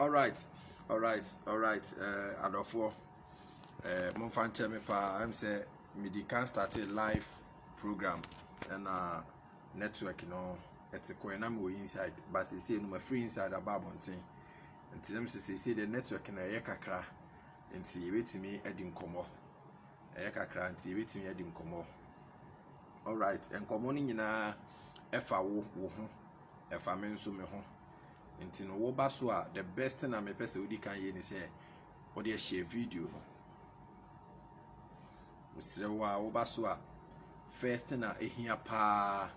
Alright, alright, alright, uh, adɔfoɔ, uh, momfa nkyɛ me paa, ɛm sɛ mede kan starte live program ɛna network no ɛte kɔɛ na mewɔ inside ba seesei no mafiri inside aba abɔnten nti nam sɛ seesei deɛ network no ɛyɛ kakra nti yɛbɛtumi adi nkɔmmɔ ɛyɛ kakra nti yɛbɛtumi adi nkɔmmɔ alright nkɔmmɔ no nyinaa ɛfa wo wo ho ɛfa me nso me ho nti no wo ba so a the best thing a me pɛ sɛ wodi kan yɛ ni sɛ wɔde ɛhyɛ video no mesrɛ wo a wo ba so a first thing a ehia paa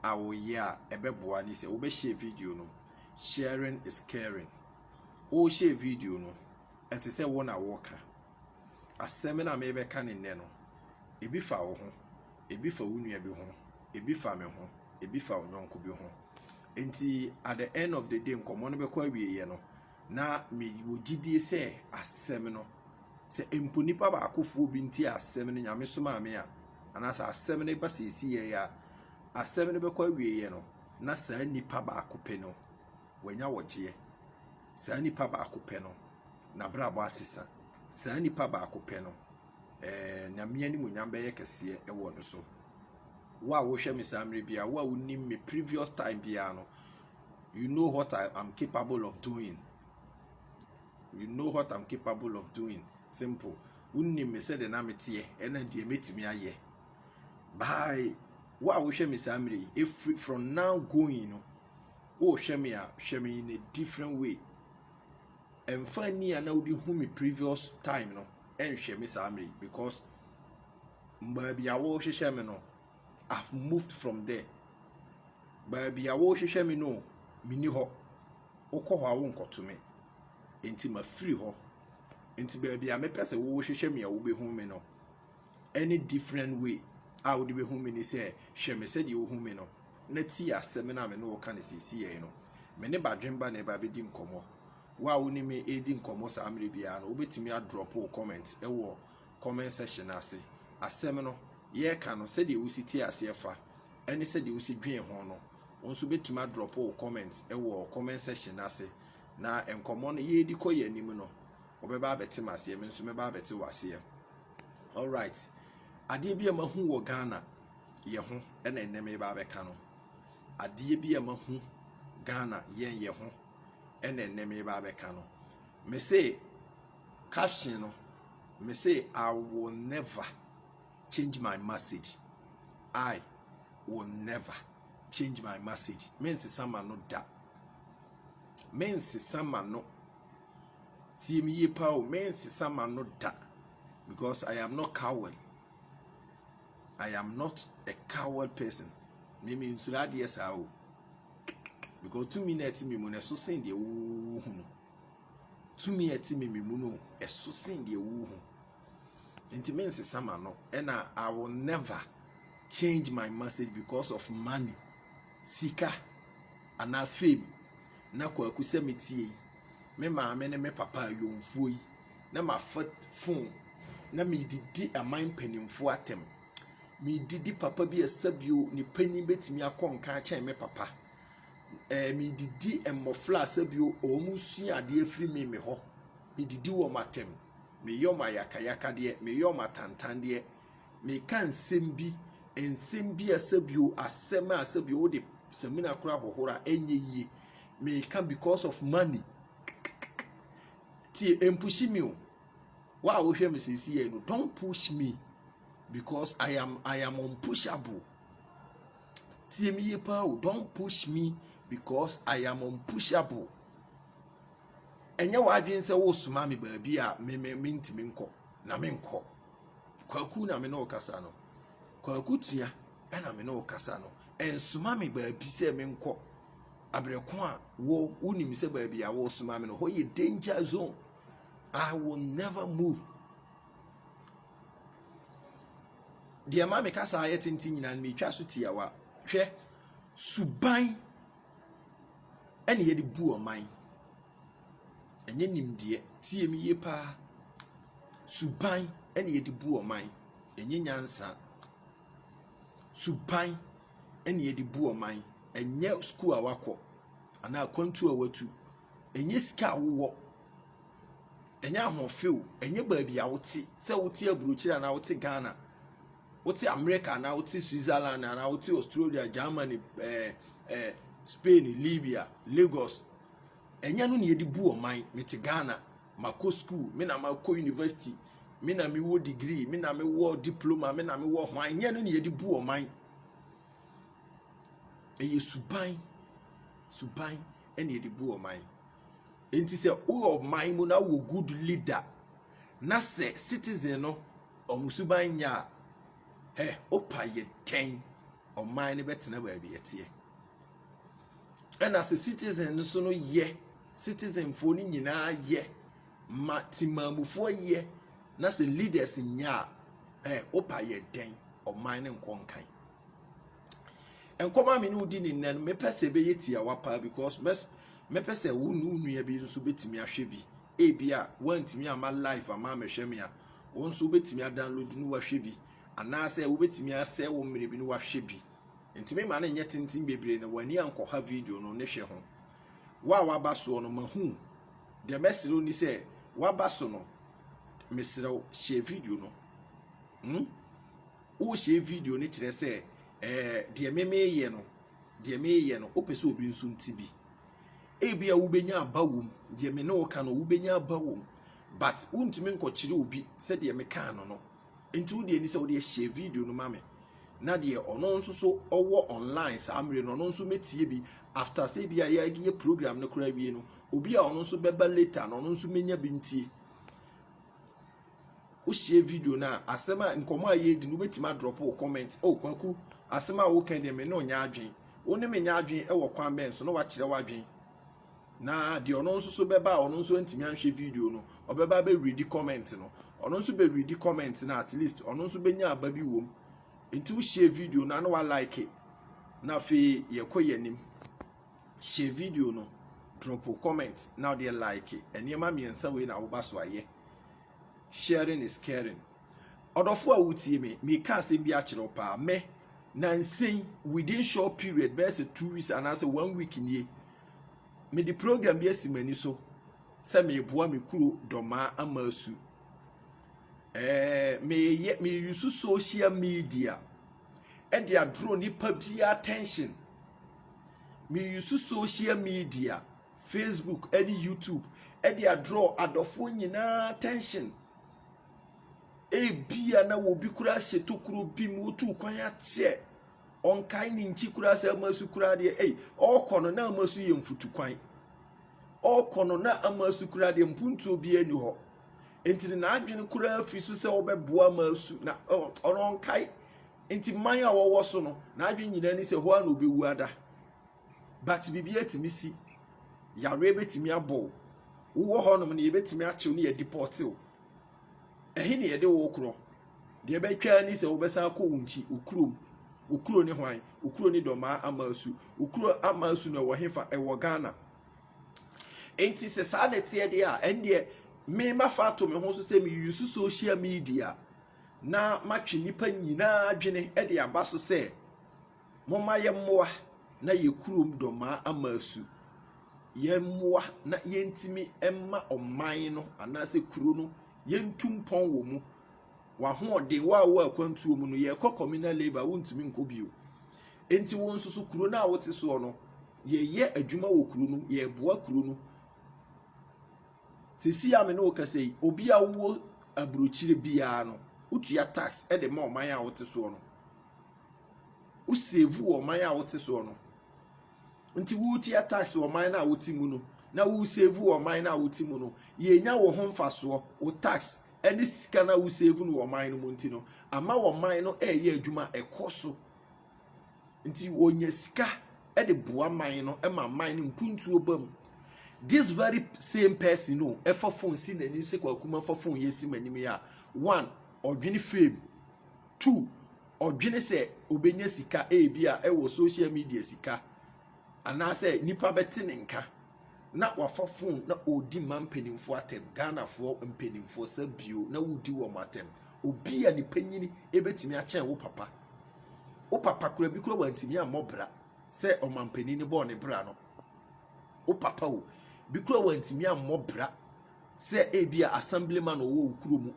a wɔyɛ a ɛbɛboa ne sɛ wobɛhyɛ video no sharing is caring wohyɛ video no ɛte sɛ wo na wɔka Asɛm no a merebɛka no nnɛ no, ebi fa wo ho, ebi fa wo nua bi ho, ebi fa me ho, ebi fa ɔnyɔnko bi ho. Enti at the end of the day nkɔmmɔ no bɛkɔ awieeɛ no, na mewɔ gyidie sɛ asɛm no, sɛ mpo nipa baakofoɔ bi nti asɛm no nyame somaa me a, anaasɛ asɛm no ba seesei a, asɛm no bɛkɔ awieeɛ no, na saa nipa baako pɛ no Wanya wɔgyeɛ. Saa nipa baako pɛ no, n'abrabɔ asesa. Saa nipa baako pɛ no, eh, Nyame animuonyam bɛyɛ kɛseɛ wɔ no so. Wo a wohwɛ me saa mmerɛ biara, wo a wonim me previous time biara no, you know what I am capable of doing. You know what I'm capable of doing. Simple. Wonim me sɛdeɛ na meteɛ, ɛna deɛ mɛtumi ayɛ. By wo a wohwɛ me saa mmerɛ yi, ɛfiri from now going no, Wohwɛ me a hwɛ me in a different way. Ɛmfa ani a na wode hu me previous time no nhwɛ me saa mmerɛ yi because baabi a wohwehwɛ me no I've moved from there. Baabi a wohwehwɛ me no menni hɔ. Wokɔ hɔ a wonkɔto me. Enti mafiri hɔ. Enti baabi a mepɛ sɛ wohwehwɛ me a wobɛhu me no Any different way a wode bɛhu me ne sɛ, hwɛ me sɛdeɛ wohu me no, na tie asɛm no a me ne wo reka no seesei no. Me ne Badwemba na ɛba abɛdi nkɔmmɔ. Wo a wo ne me redi nkɔmmɔ saa mmerɛ biara no, wobɛtumi adrɔpo wo comment wɔ comment section no ase. Asɛm no yɛreka no, sɛdeɛ wosi tee aseɛ fa ne sɛdeɛ wosi dwen ho no, wo nso wobɛtumi adrɔpo wo comment wɔ comment section no ase. Na nkɔmmɔ no yɛredi kɔ yɛn anim no, Wɔbɛba abɛte m'aseɛ, me nso mɛba abɛte w'aseɛ. Alright, adeɛ bi a mahu wɔ Ghana yɛ ho ɛna ɛnɛ meba abɛka no. Adeɛ bi a mahu Ghana yɛn yɛ ho ɛna ɛnɛ meba abɛka no. Me se caption no, me se I will never change my message. I will never change my message. Mensesa ma no da. Mensesa ma no Tie me yie paa o, merensesa m'ano da because I am not coward. I am not a coward person. Me mensuro adeɛ saa o. Because tumi na ɛte me mu no ɛso sen deɛ wohu no. Tumi a ɛte me me mu no ɛso sen deɛ wohu. Nti me nsesa ma no ɛna I will never change my message because of money sika ana fame na kwaku sɛ me tie yi me maame ne me papa ayɔnfuo yi na ma fa phone na me didi aman mpanimfoɔ atɛm me didi papa bi ɛsɛ bio ne panyin betumi akɔ nka akyɛn me papa ɛɛ eh, me didi mmɔfra asɛ bio wɔn sua adeɛ firi me me hɔ me didi wɔn atɛm. meyɔ m'ayakayakadeɛ, meyɔ m'atantandeɛ, meka nsɛm bi, nsɛm bi a sɛbio asɛm a sɛbio wode samina koraa hohoro a ɛnyɛ yie, meka because of money. Tie, ɛmpushi me o. Wa a wohwɛ me sɛsi yɛ no, don't push me because I am, I am unpushable. Tie me yie paa o, don't push me because I am unpushable. Ɛnyɛ w'adwene sɛ woresoma me baabi a me me mentumi nkɔ na menkɔ. Kwaku na me ne ɔkasa no. Kwaku tua ɛna me ne ɔkasa no. Ɛnsoma me baabi sɛ menkɔ. Abirɛko a wo wonim sɛ baabi a wɔresoma me no hɔ yɛ danger zone. I will never move. Deɛ ma me kasa ayɛ tenten nyinaa no metwa so tiawa. Hwɛ suban. ɛna yɛde bu ɔman. Ɛnyɛ nimdeɛ. Tie me yie paa. Suban ɛna yɛde bu ɔman. Ɛnyɛ nyansa. Suban ɛna yɛde bu ɔman. Ɛnyɛ sukuu a wakɔ anaa akwantuo a watu. Ɛnyɛ sika a wowɔ. Ɛnyɛ ahoɔfɛ o. Ɛnyɛ baabi a wote. Sɛ wote aburokyire anaa wote Ghana. Wote Amerika anaa wote Switzerland anaa wote Australia, Germany, eh, eh, Spain, Libya, Lagos. Ɛnyɛ no na yɛde bu ɔman. Mete Ghana, makɔ school, me na makɔ university, me na mewɔ degree, me na mewɔ diploma, me na mewɔ hwan. Ɛnyɛ no na yɛde bu ɔman. Ɛyɛ suban, suban ɛna yɛde bu ɔman. Enti sɛ woyɛ ɔman mu na wɔ good leader Na sɛ citizen no ɔmo suban nyɛ a, hɛ opa yɛ dɛn ɔman no bɛtena baabi ɛteɛ? Ɛna sɛ citizen no so no yɛ, citizen foɔ no nyinaa yɛ, ma timamufoɔ yɛ, na sɛ leaders nyɛ a, hɛ opa yɛ dɛn ɔman no nkɔ nkan? nkɔm a me ne wo di ne nnɛ no mepɛ sɛ ɛbɛyɛ tiawa paa because mɛpɛ sɛ wo ne wo nua bi nso bɛtumi ahwɛ bi ebi a woantumi ama live ama amɛhwɛ me a wo nso wobɛtumi adownload no wahwɛ bi anaasɛ wobɛtumi asɛ wo mmerɛ bi no wahwɛ bi ntumi ma no nyɛ tenten bebree na w'ani ankɔha video no ne hwɛ ho wo a waba soɔ no mahu deɛ mɛserɛ wo ni sɛ waba so no meserɛ wo hyɛ video no hmm? Wo share video no kyerɛ sɛ eh, deɛ me meyɛ no, deɛ meyɛ no, wopɛ sɛ obi nso nti bi. Ebi a wobɛnya aba wom, deɛ me ne wo ka no, wobɛnya aba wom, but wontumi nkɔkyerɛ obi sɛ deɛ mekaa no no. Nti wo deɛ ni sɛ wode share video no ma me, na deɛ ɔno nso so ɔwɔ online saa mmerɛ no, ɔno nso mɛtie bi after sɛ bi a yɛayɛ program no koraa wie no, obi a ɔno nso bɛba later no, ɔno nso mɛnya bi ntie. wohyia video no a asɛm a nkɔmɔ a yɛredi no wobɛtumi adrɔpo wo comment o kwaku asɛm a woka deɛ me ne ɔnyɛ adwen wo ne me nyɛ adwen wɔ kwan bɛn so na wakyerɛ w'adwen na deɛ ɔno nso so bɛba a ɔno nso antumi anhwɛ video no ɔbɛba bɛredi comment no ɔno nso bɛredi comment no at least ɔno nso bɛnya aba bi wom nti wohyia video no a na walike na afei yɛkɔ yɛn anim Hyɛ video no, dropo comment na wodeɛ like. Nneɛma mmiɛnsa wei na woba so ayɛ. Sharing is caring. Ɔdɔfo a wotie me, meka asɛm bi akyerɛ wo paa. Me, nansɛn within short period bɛyɛ sɛ two weeks anaasɛ one week nie, mede program bi asi m'ani so sɛ meboa me kuro dɔmaa ama asu. Eh, meyɛ meyusu social media ɛde adoro nipa biara attention. Meuse social media, Facebook ne YouTube de adraw adɔfoɔ nyinaa attention. Ebia na obi koraa hyɛ tokuro bi mu, wotu kwan ateɛ. Ɔnkae ne nkyi koraa sɛ ama su koraa deɛ, ei, ɔrekɔ no na ama su yɛ mfutukwan. Ɔrekɔ no na ama su koraa deɛ mpuntuo biara ni hɔ. Enti n'adwene koraa fi so sɛ ɔbɛboa ama su na ɔnkae Nti man a ɔwɔ so no n'adwene nyinaa ni sɛ hɔ ara na ɔbɛwu ada. But biribi atumi si, yareɛ bɛtumi abɔ wo, wowɔ hɔnom no yɛbɛtumi akyew ne yɛdepɔte wo. Ɛhe ne yɛde wo korɔ? Deɛ ɛbɛtwa ni sɛ wobɛsan akɔ wo nkyi, wo kurom. Wo kuro ne hwan? Wo kuro ne Dɔmaa Amaasu. Wo kuro Amaasu no ɛwɔ hefa? Ɛwɔ Ghana. Nti sɛ saa na ɛteɛ deɛ a, ɛndeɛ me mafa ato me ho so sɛ meyusu social media na matwe nnipa nyinaa adwene de aba so sɛ, Momma yɛmmoa na yɛn kurom dɔmmaa ama asu. Yɛmmoa na yɛntumi mma ɔman no anaasɛ kuro no yɛntu mpɔn wɔ mu. W'ahoɔden, wo a wowɔ akwantuo mu no, yɛrekɔ communal labour, wontumi nkɔ bio. Enti wo nso so kuro no a wote soɔ no, yɛyɛ adwuma wɔ kuro no, yɛreboa kuro no. Seesei a me ne wo kasa yi, obi a wowɔ aburokyire biara no, wotua tax de ma ɔman a wote soɔ no. Wosevu wɔ ɔman a wote soɔ no. Nti woretua tax wɔ ɔman no a wote mu no, na woresevu wɔ ɔman no a wote mu no, yɛnya wo ho mfasoɔ, wo tax ne sika no a wosevu no wɔ ɔman no mu nti no, ama ɔman no reyɛ adwuma, ɛkɔ so nti wɔnya sika de boa man no ma man no mpuntuo ba mu this very same person no ɛfa phone si n'anim sɛ kwakuma fa phone yɛ si m'anim yɛ a one ɔdwene fame two ɔdwene sɛ ɔbɛnya sika ebi a ɛwɔ social media sika anaasɛ nipa bɛte ne nka. na wafa phone na ɔredi mmaa mpanimfoɔ atɛm, Ghanafoɔ mpanimfoɔ sɛ bio na wodi wɔn atɛm, obi a ne panyini bɛtumi akyɛn wo papa, wo papa kora bi kora wantumi ammɔ bra sɛ ɔmampanin ne bɔɔ ne bra no, wo papa o, bi kora wantumi ammɔ bra sɛ ebi a assemblyman ɔwɔ wo kuro mu,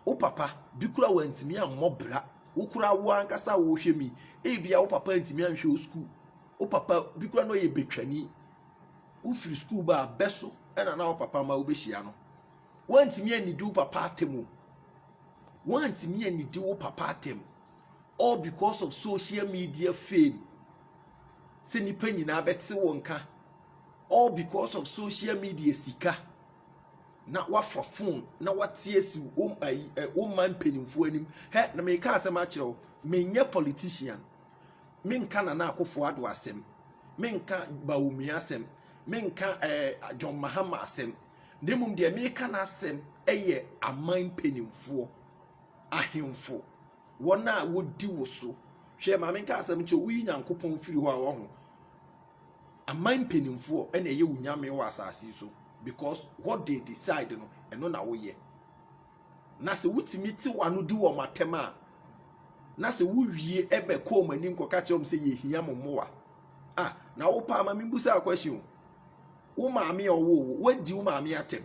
wo papa bi kora wantumi ammɔ bra, wo kora wo ankasa a wɔhwɛ mi, ebi a wo papa ntumi anhwɛ wo sukuu. Wo papa bi koraa na ɔyɛ betwani. Wofiri sukuu ba a, bɛ so na na wo papa ma wobɛhyia no. Woantumi annidi wo papa atɛm o. Woantumi annidi wo papa atɛm. All because of social media fame. Sɛ nnipa nyinaa bɛte wo nka. All because of social media sika. Na wafa phone na wate asi wo ayi ɛ wo man mpanimfoɔ anim. Hɛ na meka asɛm akyerɛ wo. Menyɛ politician. Menka Nana Akufo Addo asɛm, menka Bawumia asɛm, menka ɛɛ eh, John Mahama asɛm, na mmom deɛ meka n'asɛm yɛ aman mpanimfoɔ, ahemfo, wɔn a wɔdi wo so. Hwɛ maame nka asɛm nkyɛ woyi Nyankopɔn firi hɔ a wɔho. Aman mpanimfoɔ ɛna ɛyɛ wo nyame wɔ asase so because what they decide no ɛno na woyɛ. Na sɛ wotumi tew ano di wɔn atɛm a, na sɛ wowie bɛ kɔɔ wɔn anim kɔka kyerɛ wɔn sɛ yɛhia mo mmoa. Ah, na wo paa ma mebusa a question o. Wo maame a ɔwoo wo, woadi wo maame atɛm.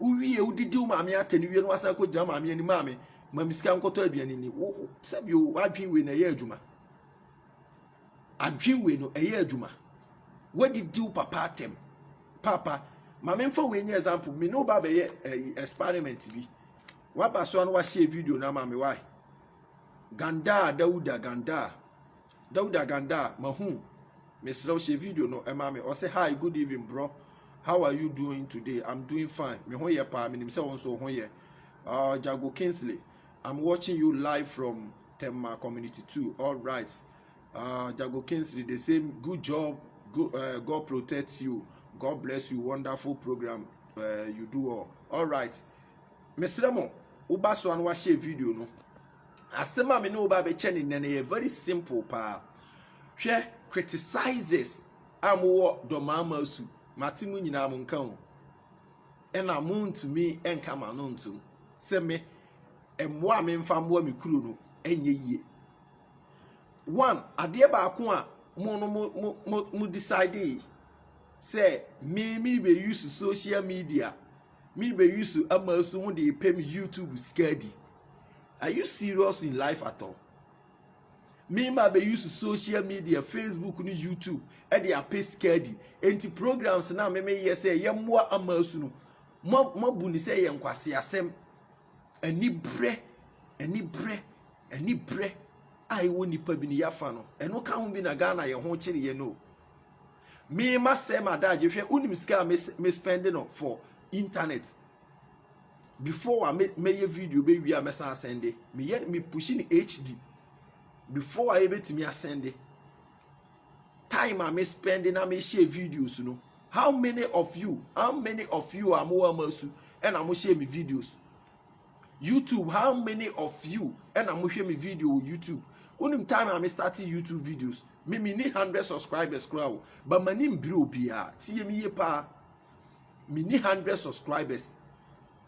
Wowie, wodidi wo maame atɛm wie no wasan kɔ gyina maame anim maame ma me sika nkɔtɔ aduane ni. Wo sɛbi o, wadwen wei na ɛyɛ adwuma. Adwen wei no ɛyɛ adwuma. Wadidi wo papa atɛm. Paapa, ma memfa wei nyɛ example. Me ne wo ba bɛyɛ ɛyi eh, experiment bi. Waba so ano wahyɛ video no ama me why? Gandaa Dauda Gandaa. Dauda Gandaa, mahu. Mesrɛ wo hyɛ video no ɛma me. Ɔsɛ hi, good evening bro. How are you doing today? I'm doing fine. Me ho yɛ paa, menim sɛ wo nso wo ho yɛ. Uh, Jago Kingsley, I'm watching you live from Tema community too all right uh, Jago Kingsley the same good job good, uh, God protect you God bless you wonderful program uh, you do all all right mesrɛ mo woba so a na wahyɛ video no asɛm a me ne wo ba bɛkyɛ ne nnɛ no yɛ very simple paa hwɛ criticizes a mowɔ dɔmaama su mate mu nyinaa mo nka ho Ɛna mo ntumi nka mo ano ntom sɛ me mmoa a memfa mmoa me kuro no ɛnyɛ yie. One, adeɛ baako a mo no mo mo mo mo decide sɛ me me bɛ use social media me bɛ use ama so mo de pɛ me YouTube sika di. Are you serious in life at all? Me ma be use social media, Facebook ne YouTube de apɛ sika adi. Enti programs na me me yɛ sɛ yɛmmoa ama asu no, mo abu ne sɛ yɛ nkwasi asɛm. Anibrɛ, anibrɛ, anibrɛ a ɛwɔ nipa bi ne yafa no, ɛno ka ho bi na Ghana yɛ ho kyere yɛ no. Me ma sɛ ma daagye hwɛ, unim sika a me spend no for internet. before a mɛyɛ video bɛwie a mɛsan asɛnde meyɛ me pushi ne hd before a yɛbɛtumi asɛnde time a me spend na me share videos no how many of you how many of you a mowɔ ama su ɛna mo share me videos youtube how many of you ɛna mo hwɛ me video wɔ youtube wonim time a me start youtube videos me me ni hundred subscribers koraa o but ma ni mbiri obiara tie mi yie paa. mini hundred subscribers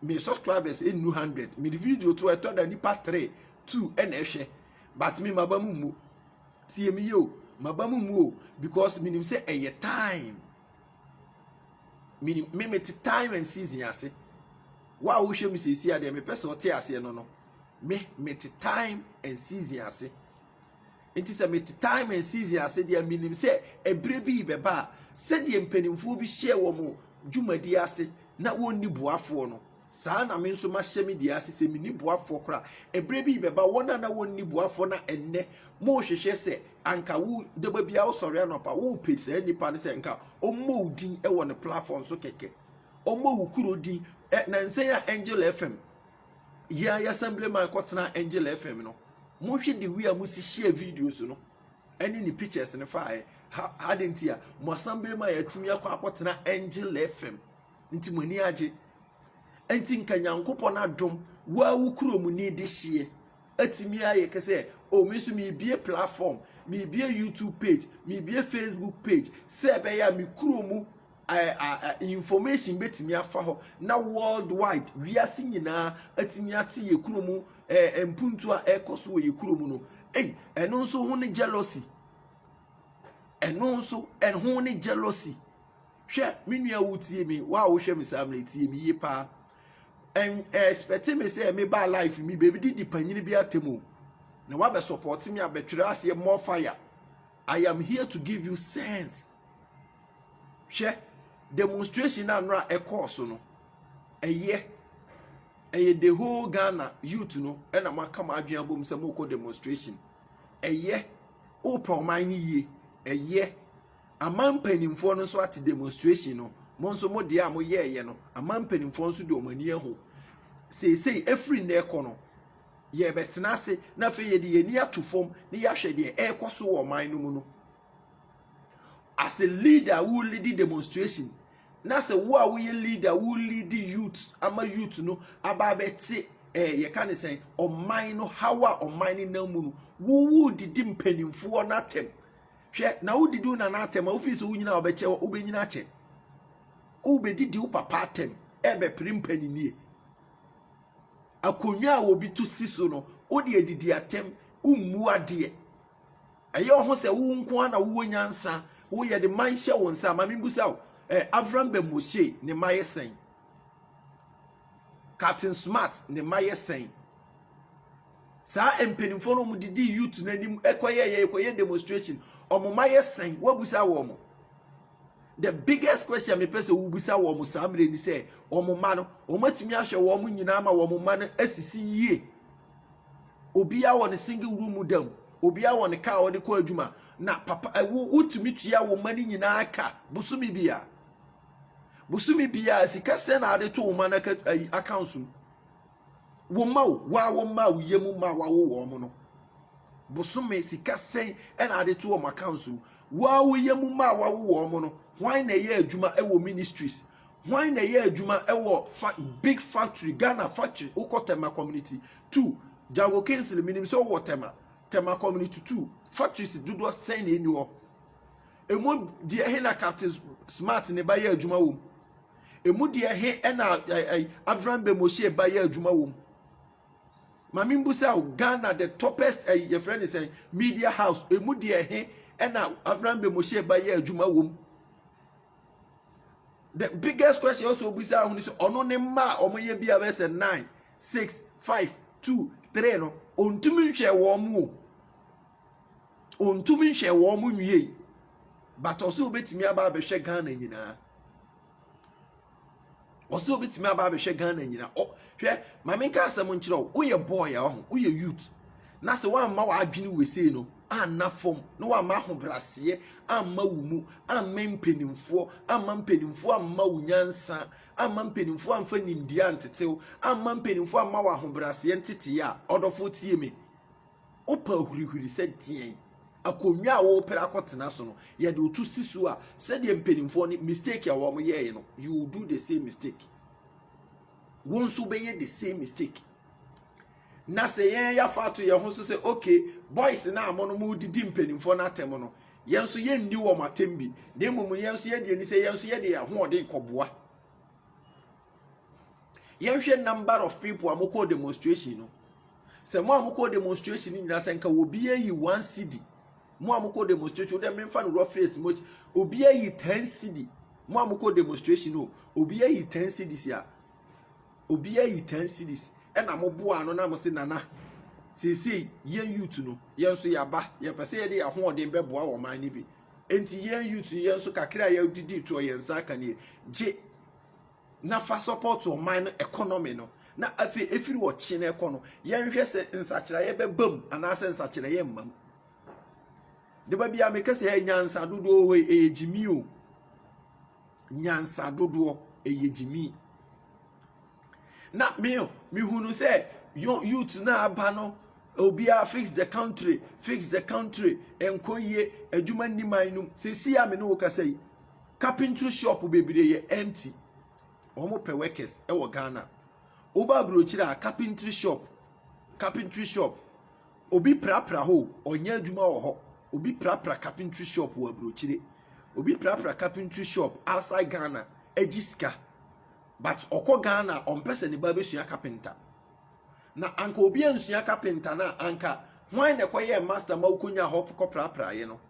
me subscribers enu hundred me video to ɛtɔ da nipa three two ɛna ɛhwɛ but me maba mu mu tie mi yie o maba mu mu o because menim sɛ ɛyɛ time menim me me te time and season ase wo a wohwɛ mi sɛ esi adeɛ mepɛ sɛ ɔte aseɛ no no me me te time and season ase. Enti sɛ mete time and season ase deɛ a, menim sɛ ɛberɛ bi rebɛba a, sɛdeɛ mpanimfoɔ bi hyɛɛ wɔn dwumadie ase na wɔnni boafoɔ no, saa ara na me nso mahyɛ me deɛ ase sɛ menni boafoɔ koraa. Ɛberɛ bi rebɛba, wɔn a na wɔnni boafoɔ na ɛnnɛ morehwehwɛ sɛ anka wo daba biara wosɔre anɔpa worepɛ saa nipa no sɛ nka ɔmmɔ wo din wɔ ne platform so kɛkɛ, ɔmmɔ wo kuro din. Ɛ, nansa yi a Angel FM Yɛ a yɛ Assemblyman kɔtenaa Angel FM no, monhwɛ the way a mosi hyɛɛ videos no ɛne ne pictures no faeɛ. Ha ade nti a mo Assemblyman a yɛatumi akɔ akɔtena Angel FM nti mo ani agye. Nti nka Nyankopɔn adom wo a wo kurom ni de hyeɛ atumi ayɛ kɛ sɛ o me nso meebie platform, meebie YouTube page, meebie Facebook page sɛ ɛbɛyɛ a me kurom Information bɛtumi afa hɔ na world wide, wiase nyinaa atumi ate yɛ kuro mu mpuntu a ɛrekɔ so wɔ yɛ kuro mu no. Ei, ɛno nso ho ne jealousy. Ɛno nso ɛho ne jealousy. Hwɛ, me nua wotie me, wo a wohwɛ me saa mmerɛ tie me yie paa. Ɛn ɛspɛte me sɛ me baa life mi baabi didi panyini bi atɛm o. Na wabɛ support me abɛtwerɛ aseɛ more fire. I am here to give you sense. Hwɛ demonstration a nora ɛkɔɔ so no. Ɛyɛ ɛyɛ the whole Ghana youth no ɛna mo aka mo adwene abom sɛ mo kɔ demonstration. Ɛyɛ wopɛ ɔman no yie. Ɛyɛ ama mpanimfoɔ no nso ate demonstration no. Mo nso mo deɛ a mo yɛɛyɛ no ama mpanimfoɔ nso de wɔn ani ahu. Seesei efiri nnɛ kɔ no Yɛrebɛtena ase na afei yɛde yɛn ani ato fam na yɛahwɛ deɛ ɛrekɔ so wɔ ɔman no mu no. As a leader, wo lead demonstration na sɛ wo a woyɛ leader wo lead youth ama youth no aba abɛte ɛɛ eh, yɛka ne sɛn ɔman no haw a ɔman no nam mu no wowu didi mpanimfoɔ no atɛm hwɛ na wodidi na no atɛm a wofii sɛ wonyina a wɔbɛkyɛ wobɛnyina akyɛ wobɛdidi wo papa atɛm ɛbɛpere mpanyinie Akonnwa a obi to si so no, wode adidi atɛm, wommu adeɛ. Ɛyɛ wo ho sɛ wo nko ara na wowɔ nyansa, wo yɛde man hyɛ wo nsa. Ma menbusa wo, eh, Avram Bɛmɔhye ne mma yɛ sɛn? Captain Smart ne mma yɛ sɛn? Saa mpanimfoɔ no wɔde dii youth no anim kɔyɛɛyɛ kɔyɛ demonstration, wɔn mma yɛ sɛn? Woabusa wɔn? The biggest question mepɛ sɛ wobisa wɔn saa mmerɛ ni sɛ wɔn mma no wɔatumi ahwɛ wɔn nyinaa ma wɔn mma no asisi yie obiara wɔ ne single room mu da mu obiara wɔ ne kaa a ɔde kɔ adwuma na papa eh, wo wotumi tua wo mma no nyinaa ka bosome biara bosome biara sika sɛ na ade to wo mma no accounts mu Wo mma o, wo a womaa wo yam mma a wɔawo wɔn no, bosome sika sɛn na ade to wɔn accounts mu? Wo a wo yam mma a wɔawo wɔn no, hwan na ɛyɛ adwuma wɔ ministries? Hwan na ɛyɛ adwuma wɔ fa big factory, Ghana factory, wokɔ Tema community two, Jago Kingsley, menim sɛ wowɔ Tema, Tema community two, factories dodoɔ sɛn na ɛni hɔ? Emu deɛ he na Captain Smart ne ba yɛ adwuma wom? Emu deɛ he na Avram Bemoshie ba yɛ adwuma wom? Maame mbusa o, Ghana the toppest ɛyi yɛfrɛ ne sɛn media house emu deɛ he na Avram Bemoshie ba yɛ adwuma wom? The biggest question also obusa ho ne sɛ ɔno ne mma a wɔyɛ bi a bɛyɛ sɛ nine six five two three no ɔntumi nhwɛ wɔn mu o. Ontumi nhwɛɛ wɔn nwiei, but ɔsɛ obetumi aba abɛhwɛ Ghana nyinaa. Ɔsɛ obetumi aba abɛhwɛ Ghana nyinaa. Ɔ hwɛ maame nka asɛm nkyerɛ wo, woyɛ boy a ɔho, woyɛ youth. Na sɛ woamma w'adwene wesei no anna fam, na woamma ahobraseɛ amma wo mu, amma mpanimfoɔ, amma mpanimfoɔ amma wo nyansa, amma mpanimfoɔ amfa nimdeɛ antetew, amma mpanimfoɔ amma w'ahobraseɛ ntetee a, ɔdɔfoɔ tie me. Wopɛ hurihuri sɛ deɛn? Akonnwa a wopere akɔtena so no, yɛde wo to si so a, sɛdeɛ mpanimfoɔ no mistake a wɔn yɛɛyɛ no, you will do the same mistake. Wɔn nso bɛyɛ the same mistake. Na sɛ yɛn yɛafa ato yɛn ho so sɛ okay, boys no a mo no mo didi mpanimfoɔ no atɛm no, yɛn nso yɛnni wɔn atɛm bi. Na mmom yɛn nso yɛde ani sɛ yɛn nso yɛde yɛn ahoɔden kɔboa. Yɛnhwɛ number of people a wɔkɔɔ demonstration no. Sɛ mo a mokɔɔ demonstration no nyinaa sɛ nka obi ayi one cedi mo a mokɔ demonstration wodɛ memfa no reference mo obi ayi ten cedi mo a mokɔ demonstration no obi ayi ten cedis a obi ayi ten cedis ɛna mo boa ano na mo se nana seesei yɛn youth no yɛn nso yɛaba yɛpɛ sɛ yɛde yɛn ahoɔden bɛboa wɔn man no bi nti yɛn youth no yɛn nso kakra a yɛdidi toɔ yɛn nsa aka nie gye na fa support ɔman no economy no na afei efiri ɔkye no ɛkɔ no yɛnhwɛ sɛ nsakyerɛeɛ bɛba mu anaasɛ nsakyerɛeɛ mma mu deba bia meka sɛ ɛyɛ nyansa dodoɔ hɔ ɛyɛ gyimi o nyansa dodoɔ ɛyɛ gyimi na me mehunu sɛ youth no aba no obiara fix the country fix the country nkɔ yie adwuma nni man no sɛ si a me ne wo kasa yi Carpentry shop bebree yɛ empty, wɔn pɛ workers wɔ Ghana. Wo ba abrokyire a carpentry shop, carpentry shop, obi prapra hɔ o, ɔnyɛ adwuma wɔ hɔ. Obi prapra carpentry shop wɔ abrokyire. Obi prapra carpentry shop outside Ghana, agye sika. But ɔkɔ Ghana a, ɔmpɛ sɛ ne ba bɛsua carpenter. Na anka obi ansua carpenter no a, anka hwan na ɛkɔyɛɛ master ma wokɔnya hɔ kɔprapraeɛ no?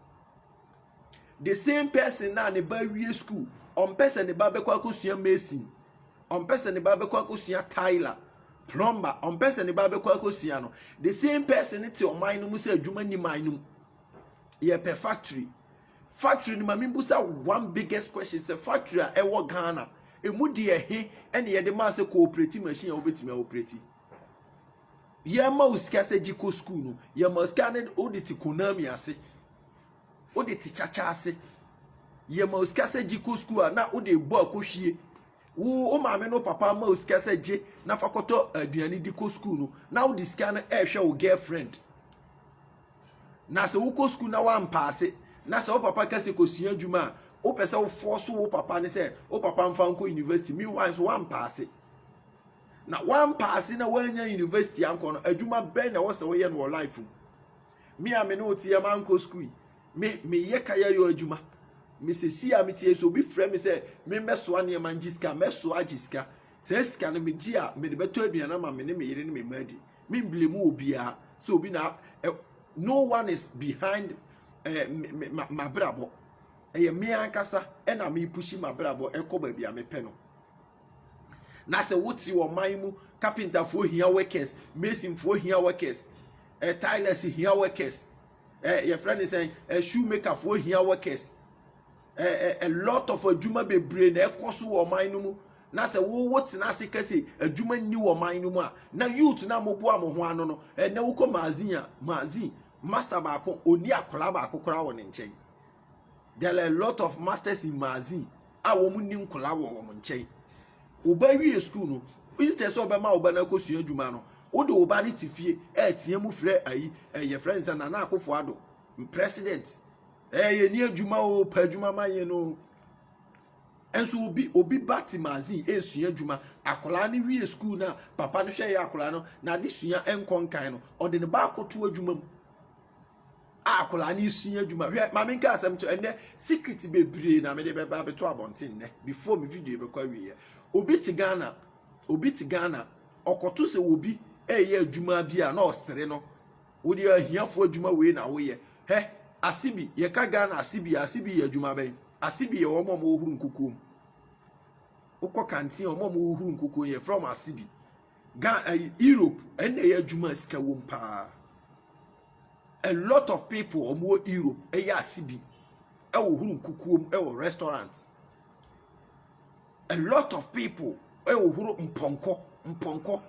The same person na ne ba awie school, ɔmpɛ sɛ ne ba bɛkɔ akɔsua mason, ɔmpɛ sɛ ne ba bɛkɔ akɔsua tyler, plumber, ɔmpɛ sɛ ne ba bɛkɔ akɔsua no. The same person ne te ɔman no mu sɛ adwuma ni man no mu. Yɛpɛ factory. Factory no ma mebusa one biggest question sɛ factory a ɛwɔ Ghana, ɛmu deɛ he ɛne yɛde maa sɛ kooperati machine a wobɛtumi a operati. Yɛma wo sika sɛ gye kɔ school no, yɛma wo sika ne wode te Konami ase. wode te kyakya ase yɛ ma osika sɛ gye kɔ sukuu a na wode bɔ akɔhwie wo wo maame no papa ma osika sɛ gye na fa kɔtɔ aduane di kɔ sukuu no na wode sika no ɛrehwɛ wo girlfriend na sɛ wokɔ sukuu na wampaase na sɛ wo papa ka sɛ kɔsua adwuma a wopɛ sɛ wofoɔ so wo papa ne sɛ wo papa mfa nkɔ university meanwhile nso wampaase na wampaase na wanya university ankɔ no adwuma bɛn na ɛwɔ sɛ woyɛ no wɔ life mu me a me ne wo te yɛ mankɔ sukuu yi me meyɛ kayɛyɔ adwuma mesɛsi a metie sɛ obi frɛ me sɛ memmɛsoa nneɛma ngye sika mɛsoa agye sika saa sika no megye a mede bɛtɔ aduane ama me ne me yere ne me mma adi memble mu wɔ biara sɛ obi na eh, no one is behind eh, mabrabɔ ɛyɛ me ankasa ɛna mepushi mabrabɔ ɛkɔ baabi a mepɛ no Na sɛ wote ɔman mu, kapentafoɔ hia workers, masonfoɔ hia workers, eh, tilers hia workers, eh, yɛfrɛ ne sɛn, eh, shoemakerfoɔ hia workers. Eh, eh, a lot of adwuma bebree na ɛkɔ so wɔ ɔman no mu. Na sɛ wowo tena ase ka sɛ adwuma nni wɔ ɔman no mu a, na youth na moboa mo ho ano no, eh, na wokɔ magazine a, magazine, master baako, ɔni akwadaa baako koraa wɔ ne nkyɛn. there are a lot of masters in magazine a wɔn ni nkwadaa wɔ wɔn nkyɛn ɔba wie sukuu no instead sɛ ɔbɛma ɔba no akɔsua adwuma no wode ɔba no te fie ɛreteɛ mu frɛ ayi ɛyɛ frɛ nsa nana akofo ado president ɛyɛ ni adwuma o pɛ adwuma ma yɛ no nso obi obi ba te magazine ɛresua adwuma akwadaa no wie sukuu no a papa no hwɛ yɛ akwadaa no n'ade sua nkɔ nkan no ɔde ne ba akɔto adwuma mu a akwadaa no resua adwuma hwɛ maame nka asɛm nkyɛn ɛnɛ secret bebree na mede bɛba abɛto abɔnten nnɛ before me video bɛkɔ awieɛ obi te ghana obi te ghana ɔkɔto sɛ obi ɛyɛ adwuma bi a na ɔsere no wode ahiafoɔ adwuma wei na woyɛ hɛ ase bi yɛka ghana ase bi ase bi yɛ adwuma bɛn ase bi yɛ wɔn a wɔhoro nkukuo mu wokɔ kantin wɔn a wɔhoro nkukuo yɛ frɛ wɔn ase bi ghana europe ɛnna ɛyɛ adwuma sika wom paa. A lot of people wɔn wɔ Europe ɛyɛ ase bi ɛwɔ huru nkukuo mu ɛwɔ restaurant. A lot of people ɛwɔ huru mpɔnkɔ mpɔnkɔ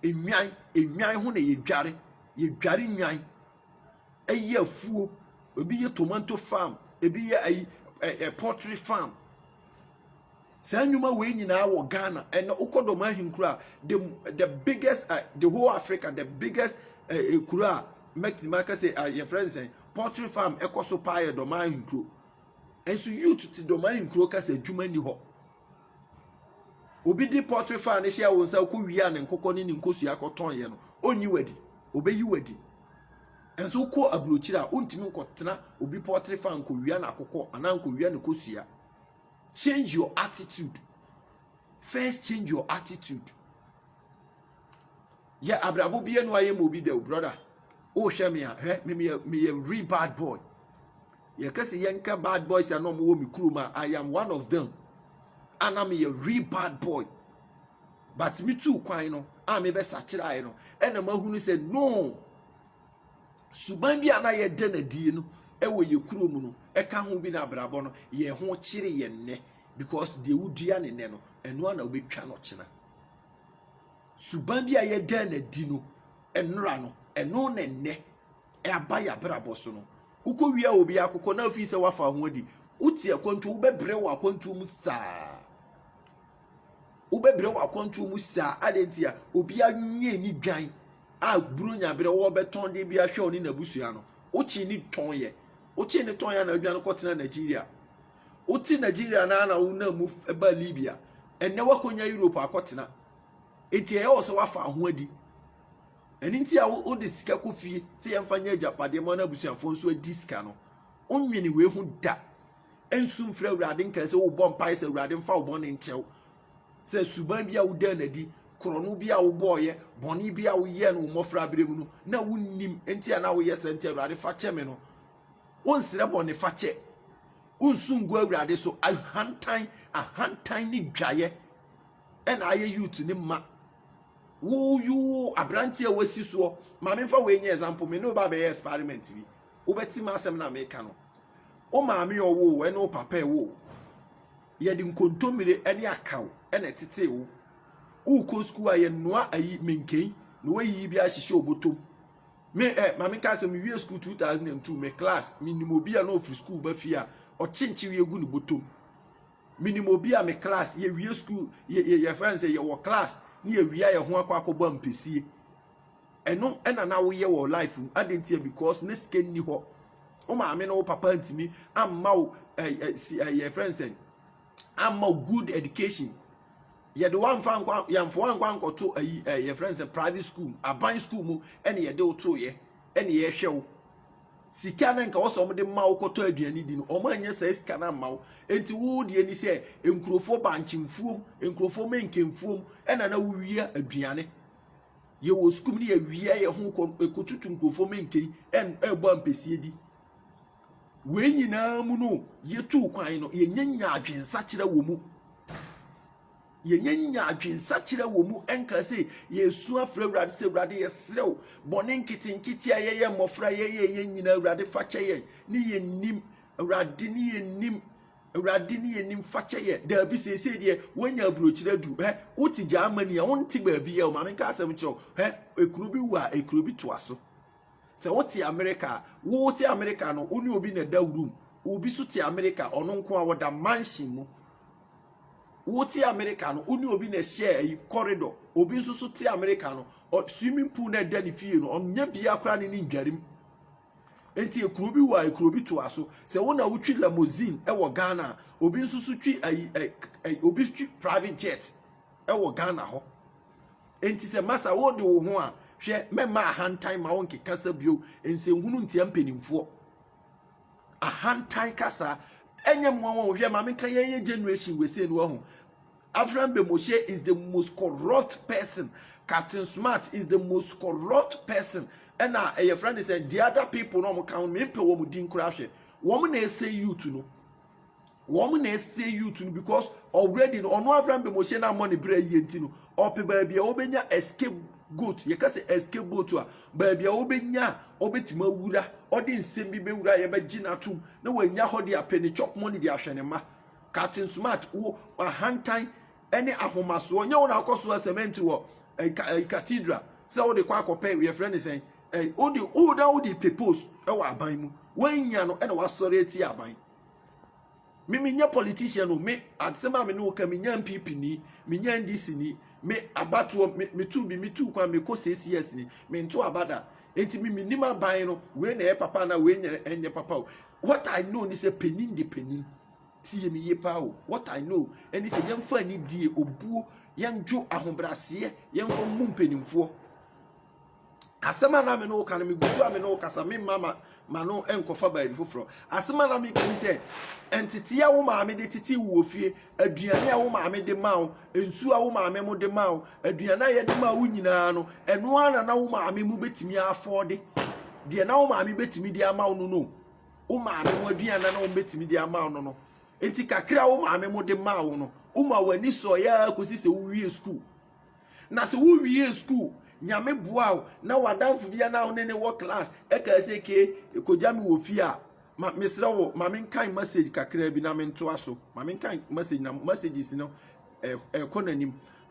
enwan enwan ho na yɛ dware yɛ dware nwan ɛyɛ afuo ebi yɛ tomanto farm ebi yɛ ayi ɛ ɛ poultry farm. Saa nnwuma wei nyinaa wɔ Ghana ɛnɛ wokɔ dɔm ahenkuro a the the biggest uh, the whole Africa the biggest uh, eh, eh, kuro a mɛtumi aka sɛ uh, yɛfrɛ no sɛn poultry farm ɛkɔ so paa yɛ dɔm ahenkuro nso youth te dɔm ahenkuro kasa adwuma ni hɔ obi di poultry farm ne hyɛ wɔn nsa kɔ wia ne nkokɔ ne ne nkosua kɔtɔn yɛ no ɔnyi wadi ɔbɛyi wadi nso kɔ aburokyire a ɔntumi nkɔtena obi poultry farm nkɔwia n'akokɔ anaa nkɔwia ne kosua Change your attitude. First change your attitude. Yɛ abrabɔ bi ɛnu ayɛ ma obi dɛw brother. O hwɛ mi a hwɛ mi mi yɛ mi yɛ real bad boy. Yɛ kɛse yɛ nka bad boys a na wɔn wɔ mi kurom a I am one of them. Ana mi yɛ real bad boy. But mi tu kwan no a mi bɛ sakyera yɛ no ɛna ma hunu sɛ no. Suban bi a na yɛda no adie no wɔ yɛ kuro mu no ka ho bi na abrabɔ no yɛ ho kyere yɛ nnɛ because deɛ wodua ne nnɛ no ɛno a na wobɛtwa no kyena. Suban bi a yɛda no adi no nnora no ɛno na nnɛ ɛaba yɛ abrabɔ so no wokɔ wia obi akokɔ na afii sɛ wafa ho adi wote akwantuo wobɛbrɛ wɔ akwantuo mu saa wobɛbrɛ wɔ akwantuo mu saa adɛn nti a obi anwie ni dwan a Buronya berɛ wɔbɛtɔn deɛ bi ahwɛ ɔne n'abusua no wokyee ne tɔn yɛ wokyee ne tɔn yɛ na adwane kɔtena Nigeria wote Nigeria na na wonam mu ba Libya ɛnɛ wakɔnya Europe akɔtena enti ɛyɛ wɔ sɛ wafa ho adi ɛno nti a wode sika kɔ fie sɛ yɛmfa nyɛ agyapadeɛ ma no abusuafoɔ nso adi sika no wonwene wei ho da ɛnsu mfrɛ awurade nkae sɛ wobɔ mpae sɛ awurade mfa wo bɔne nkyɛw Sɛ suban bi a wodaa no adi, korɔno bi a wobɔeɛ, bɔne bi a woyɛɛ no wo mmɔfraberɛ mu no, na wonnim nti a na woyɛ saa nti, Awurade fa kyɛ me no, wonsrɛ bɔne fakyɛ, wonsu ngu Awurade so. Ahantan, ahantan ne dwaeɛ ɛna ayɛ youth ne mma. Wo you aberanteɛ a wasi soɔ, maame mfa wei nyɛ example, me ne wo ba bɛyɛ experiment bi, wobɛte m'asɛm na meka no. Wo maame ɔwo, ɛne wo papa ɛwo. Yɛde nkontommire ne akaw na ɛtetee wo. Worekɔ sukuu a, yɛnoa ayi menken na woayiyi bi ahyehyɛ wo bɔtɔm. Me ɛ, ma menka sɛ mewie sukuu 2002, me class, menim obi a na ɔfiri sukuu ba fie a, ɔkyenkye wei gu ne bɔtɔm. Menim obi a me class, yɛwie sukuu, yɛfrɛ no sɛ yɛwɔ class ne yɛwie a yɛho akɔ akɔbɔ ampesie. Ɛno na na woyɛ wɔ life mu. Adɛn ntia? Because na sika nni hɔ. Wo maame ne wo papa ntumi amma wo yɛfrɛ no sɛn amma wo good education. Yɛde woamfa nkɔ yɛmfa woankɔ ankɔto ayi yɛfrɛ no sɛ private school aban school mu ɛne yɛde wo toeɛ ɛne yɛhwɛ wo. Sika na nka wɔ sɛ wɔde ma wo kɔtɔ aduane di no wɔn anyɛ saa sika no amma wo. Enti wo deɛ ni sɛ nkurɔfoɔ bankyemfuom nkurɔfoɔ mɛnkɛmfuom ɛna na wowia aduane. yɛwɔ sukuu mu ne yɛwia yɛn ho kɔ ɛkɔtutu nkurɔfoɔ menkei ɛrebɔ ampɛsie di wei nyinaa mu no yɛtuu kwan no yɛnyɛ nya adwensakyerɛ wɔ mu yɛnyɛ nya adwensakyerɛ wɔ mu ɛnka sɛ yɛsu afrɛ awurade sɛ awurade yɛserɛ wo bɔne nketenkete a yɛyɛ mmɔfra yɛyɛ yɛ nyinaa awurade fa kyɛ yɛn ne yɛnnim awurade ne yɛnnim Awurade ne yɛn nim fakyɛ yɛ daabi seesei deɛ woanya aburokyire aduru hɛ wote Germany a wonte baabi a maame nka asɛm kyerɛ wo hɛ ekuro bi wu a ekuro bi toa so sɛ wote Amerika a wote Amerika no wo ne obi na ɛda room obi so te Amerika ɔno nko a wɔda mansion mu wote Amerika no wo ne obi na ɛhyɛ ayi corridor obi nso so te Amerika no swimming pool na ɛda ne fie no ɔnyɛ bia koraa ne ne ndwarim Enti ekuro bi wɔ a ekuro bi toa so. Sɛ wo na wotwi limousine wɔ Ghana a, obi nso so twi ayi ɛ ɛ obi twi private jet wɔ Ghana hɔ. Enti sɛ masa wode wo ho a, hwɛ mɛma ahantan ma wonkeka sa bio nsɛnhunu ntia mpanimfoɔ. Ahantan kasa ɛnyɛ mmoa wɔn hwɛ maame nka yɛyɛ generation wɔ sei no wahu Afram Bemoshie is the most corrupt person Captain Smart is the most corrupt person ɛna ɛyɛ friend sɛ the other people na wɔn ka ho mi mpɛ wɔn din koraa hwɛ wɔn na ɛsɛ youth no wɔn na ɛsɛ youth no because already no ɔno Afram Bemoshie na mmɔ ne bere ayie nti no ɔpɛ baabi a wɔbɛnya escape goat yɛka sɛ escape boat a baabi a wɔbɛnya a wɔbɛtumi awura ɔde nsɛm bi bɛwura yɛbɛgye no atom na wɔanya hɔ de apɛ ne chop money de ahwɛ ne mma. Captain Smart wo ahantan ne ahomasoɔ nyɛ wo na akɔ so a cement wɔ eh, eh, cathedral sɛ wode kɔ akɔpɛ yɛfrɛ ne sɛn eh, wode woda wode pepose wɔ aban mu woanya no ɛna wasɔre ati aban me menyɛ politician o me asɛm a me ne wo ka menya mpp ni menya ndc ni me abatoɔ me metu bi metu kwan mekɔ ccs ni mento abada nti me menim aban no wei na ɛyɛ papa na wei nyɛ ɛnyɛ papa o what i know ni sɛ panin de panin Tie me yie paa o. What I know ɛne sɛ yɛmfa anidie, obuo, yɛndwo ahobrɛaseɛ, yɛmfa mmu mpanimfoɔ. Asɛm a na me ne wo ka no, megu so a me ne wo kasa, memma ma ma no nkɔfa baabi foforɔ. Asɛm a na meka ne sɛ, nteteɛ a wo maame de tete wo wɔ fie, aduane a wo maame de ma wo, nsuo a wo maame mo de ma wo, aduane a yɛde ma wo nyinaa no, ɛno ara na na wo maame mu bɛtumi afɔɔde. Deɛ na wo maame bɛtumi de ama wo no no. wo maame mu aduane na na wɔn bɛtumi de ama no no nti kakra wo maame mu de maa wo no woma w'ani sɔeɛ a kɔsi sɛ wowie sukuu na sɛ wowie sukuu nyame boa wo na w'adamfo bia na wo ne ne wɔ class ɛkaa sɛ ke kɔgya me wɔ fie a ma mesrɛ wo ma menkan message kakra bi na mentoa so ma menkan message na messages no ɛkɔ n'anim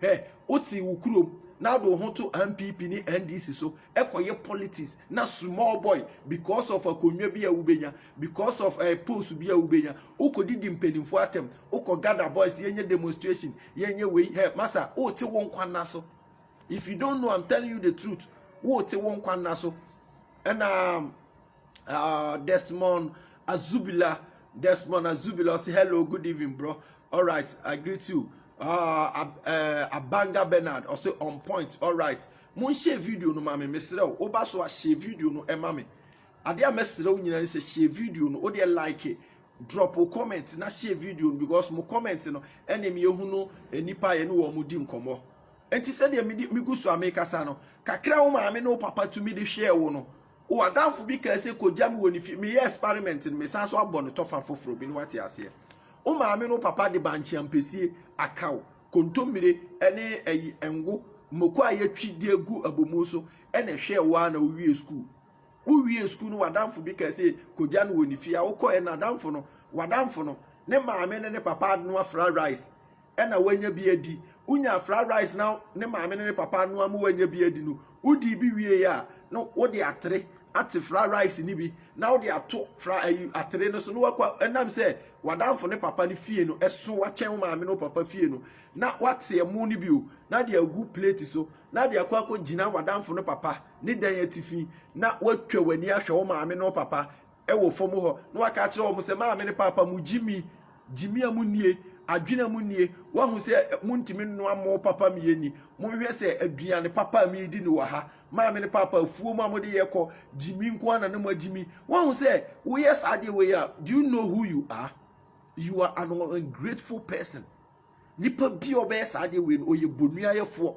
Hwɛ, wote wo kurom na wode wo ho to NPP ne NDC so kɔyɛ politics na small boy because of akonnwa bi a wobɛnya, because of eh, post bi a wobɛnya, wokɔdidi mpanimfoɔ atɛm, wokɔ gather boys, yɛnyɛ demonstration, yɛnyɛ wei, hɛ, masa, wote wo nkwa nna so. If you don't know, I'm telling you the truth. Wote wo nkwa nna so. Ɛna Uh, Desmond Azubila. Desmond Azubila say, hello, good evening, bro. All right, I greet you. Uh, uh, Abanga Bernard also on point. All right. Mo share video no mami mesrɛ o. Oba so a share video no ɛma me. Ade a mesrɛ o nyinaa sɛ share video no o deɛ like it. Drop o comment na share video no because mo comment no ɛna mi ehu no nipa yɛ ne wɔn mo di nkɔmɔ. Nti sɛdeɛ mi gu so a mi kasa no kakra wo maame ne wo papa tumi de hwɛ wo no. W'adamfo bi kaa sɛ kogya me wɔ ne fie. Meyɛ experiment no, mesan so abɔ no tɔfa foforɔ bi no wate aseɛ. Wo maame no papa de bankye ampesie, akaw, kontommire ne ayi ngo, mmoko a yɛatwi de agu abomuo so na ɛhwɛɛ wo ara na wowiee sukuu. Wowiee sukuu no w'adamfo bi kaa sɛ kogya no wɔ ne fie a wokɔɛ no adamfo no, w'adamfo no, ne maame ne ne papa anoa fra rice na wanya bi adi. Wonya fried rice na ne maame ne ne papa anoa ma wanya bi adi no, wodii bi wiei a, na wode atere ate fried rice no bi na wode ato fra ayi atere no so na wakɔ ɛnam sɛ w'adamfo ne papa no fie no ɛso wakyɛn wo maame ne wo papa fie no na wate ɛmo no bi o na de agu plate so na de akɔ akɔgyina w'adamfo no papa ne dan atifi na watwa w'ani ahwɛ wo maame ne wo papa wɔ fam hɔ na waka akyerɛ wɔn sɛ, Maame ne Paapa, mo gyimi, gyimi a mo nie, adwene a mo nie, wahu sɛ mo ntumi nnoa mo papa me yɛ ni, mo nhwɛ sɛ aduane papa a me di ne wɔ ha, maame ne Paapa, afuo mu a mo de yɛ kɔ, gyimi nko ara na ne mo agyimi, wahu sɛ wo yɛ saa adeɛ wɔ yi a, do you know who you are? You are an ungrateful person. Nipa bi a ɔbɛyɛ saa adeɛ wei no ɔyɛ bonuayɛfoɔ.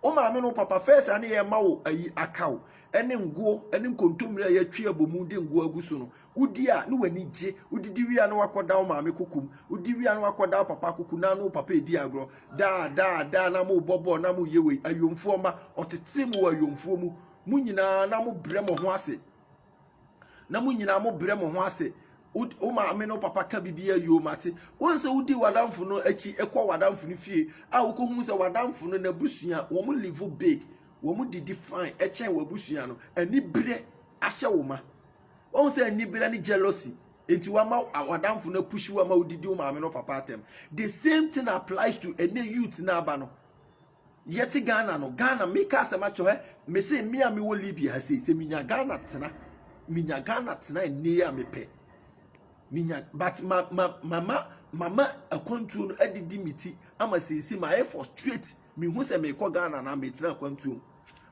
Wo maame no papa fɛs a ne yɛ ma wo ayi akaw ɛne nguo ɛne nkontommire a yɛatwi abɔ mu de nguo agu so no wodi a ne w'ani gye wodidi wie a ne wakɔda wo maame kokum wodi wie a ne wakɔda wo papa koku na ne wo papa edi agorɔ daa daa daa na mo bɔ bɔɔl na mo yɛ wei ayomfoɔ ma ɔtete mo wɔ ayomfoɔ mu mo nyinaa na mo brɛ mo ho ase na mo nyinaa mo brɛ mo ho ase wo maame no papa ka biribi a yoo mate wɔn sɛ wodi w'adamfo no akyi kɔ w'adamfo no fie a wokɔhu sɛ w'adamfo no n'abusua wɔn live big wɔn didi fine ɛkyɛn w'abusua no anibere ahyɛ wo ma wɔn sɛ anibere ne jealousy nti wama w'adamfo no apushi wama wodidi wo maame no papa atɛm the same thing applies to ɛnɛ youth n'aba no Yɛte Ghana no Ghana meka asɛm akyerɛ hɛ mese me a mewɔ Libya ha sei sɛ menya Ghana tena menya Ghana tena nne a mepɛ menya but ma ma mama mama akwantuo no adidi me ti ama seesi ma ayɛ frustrate mehu sɛ mekɔ Ghana na metena akwantuo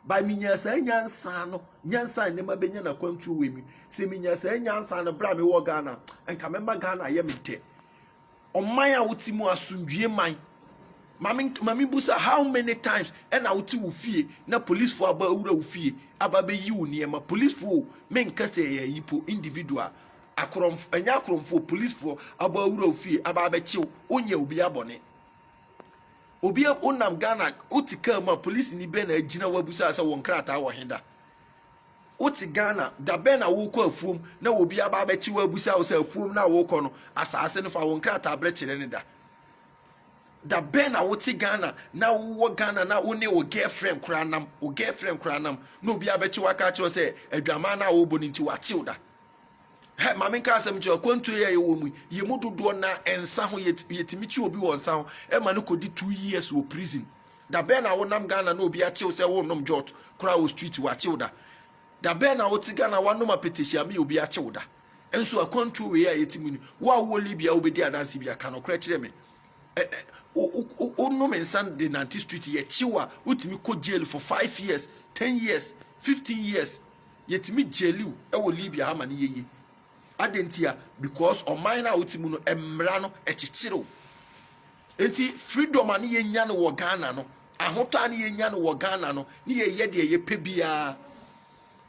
by menya saa nyansa no nyansa ne ma benya na akwantuo wɔ mi sɛ menya saa nyansa no bra mewɔ Ghana nka mɛma Ghana yɛ me dɛ Ɔman a wote mu asomdwie man. Maame maame busa how many times ɛna wote wo fie na polisifo aba awura wo fie aba bɛyi wo nneɛma polisifo o menka sɛ ɛyɛ ayi po individual akorɔmfo ɛnyɛ akorɔmfo polisifo aba awura wo fie aba abɛkyew wonyɛ obi abɔne obi wonam Ghana wote kaa mu a polisini bɛn na agyina wabusa sɛ wɔn krataa wɔ he da Wote Ghana, dabɛn na worekɔ afuom na obi aba abɛkye wo abisa wo sɛ afuom no a worekɔ no, asaase no fa wo nkrataberɛ kyerɛ ne da? Dabɛn na wote Ghana na wowɔ Ghana na wo ne wo girlfriend koraa nam, wo girlfriend koraa nam na obi abɛkye wo aka akyerɛ wo sɛ adwaman no a worebɔ no nti wakye wo da? hɛ maame nka asɛm nkyerɛ akwantuo yɛ yɛwɔ mu yɛ mu dodoɔ na nsa ho yɛtumi kye obi wɔ nsa ho ɛma no kɔdi two years wɔ prison dabɛn na wonam ghana na obi akyew sɛ wonom jot koraa wɔ street wakyew da dabɛn na wote ghana wanom apɛtɛhyia me obi akyew da nso akwantuo wei a yɛtumi ni wo a wowɔ libya wobɛdi adanse bi aka nokorɛ kyerɛ me wonom nsa de nante street yɛkyew a wotumi kɔ jail for five years ten years fifteen years Yɛtumi gyeliw wɔ Libya ha ma no yɛ yie. Adɛn ntia? Because ɔman no a wote mu no, mmara no ɛkyekyerew. Enti freedom a ne yɛnya no wɔ Ghana no, ahotɔ a ne yɛnya no wɔ Ghana no, ne yɛyɛ deɛ yɛpɛ biara.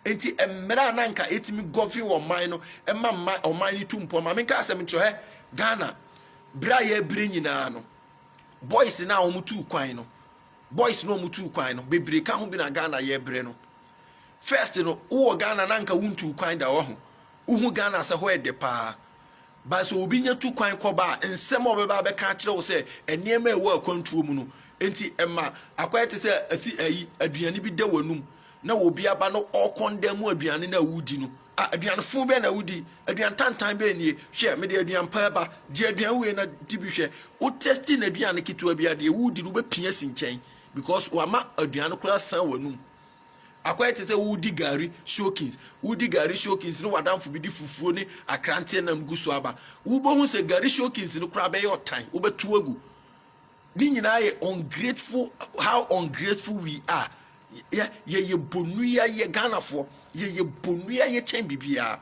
Enti mmara a na nka ɛtumi gɔven ɔman no, ɛma mma ɔman no tu mpɔn. Maame nka asɛm nkyerɛ hɛ Ghana, berɛ a yɛbrɛ nyinaa no, boys no a wɔtu kwan no, Boys no a ɔmo tuu kwan no bebree ka ho bi na Ghana yɛ brɛ no. First no wo wɔ Ghana na nka wo ntuu kwan da wahu. Wo hu Ghana sɛ hɔ yɛ dɛ paa. But sɛ obi nya tu kwan kɔ ba a nsɛm a ɔbɛba abɛka akyerɛ wo sɛ nneɛma a ɛwɔ akwantuo mu no nti ɛma akɔyɛ te sɛ asi ayi aduane bi da w'anum na obi aba no ɔkɔndan mu aduane no a wodi no a aduane fo bɛn na wodi aduane tantan bɛn nie hwɛ mede aduane pa ba gye aduane wei na di bi hwɛ wo testi na aduane ketewa bi adeɛ wodi no wobɛpia si nkyɛn because wama aduane koraa san w'anum akɔyɛ te sɛ wodi gari soakins wodi gari soakins ne wadanfo bi de fufuo ne akranteɛ nam gu so aba wobɛhu sɛ gari soakins no koraa bɛyɛ ɔtan wobɛto agu Ne nyinaa yɛ ungrateful how ungrateful we are. Yɛ yɛyɛ bonua yɛ Ghanafoɔ yɛyɛ bonua yɛ kyɛn biribiara.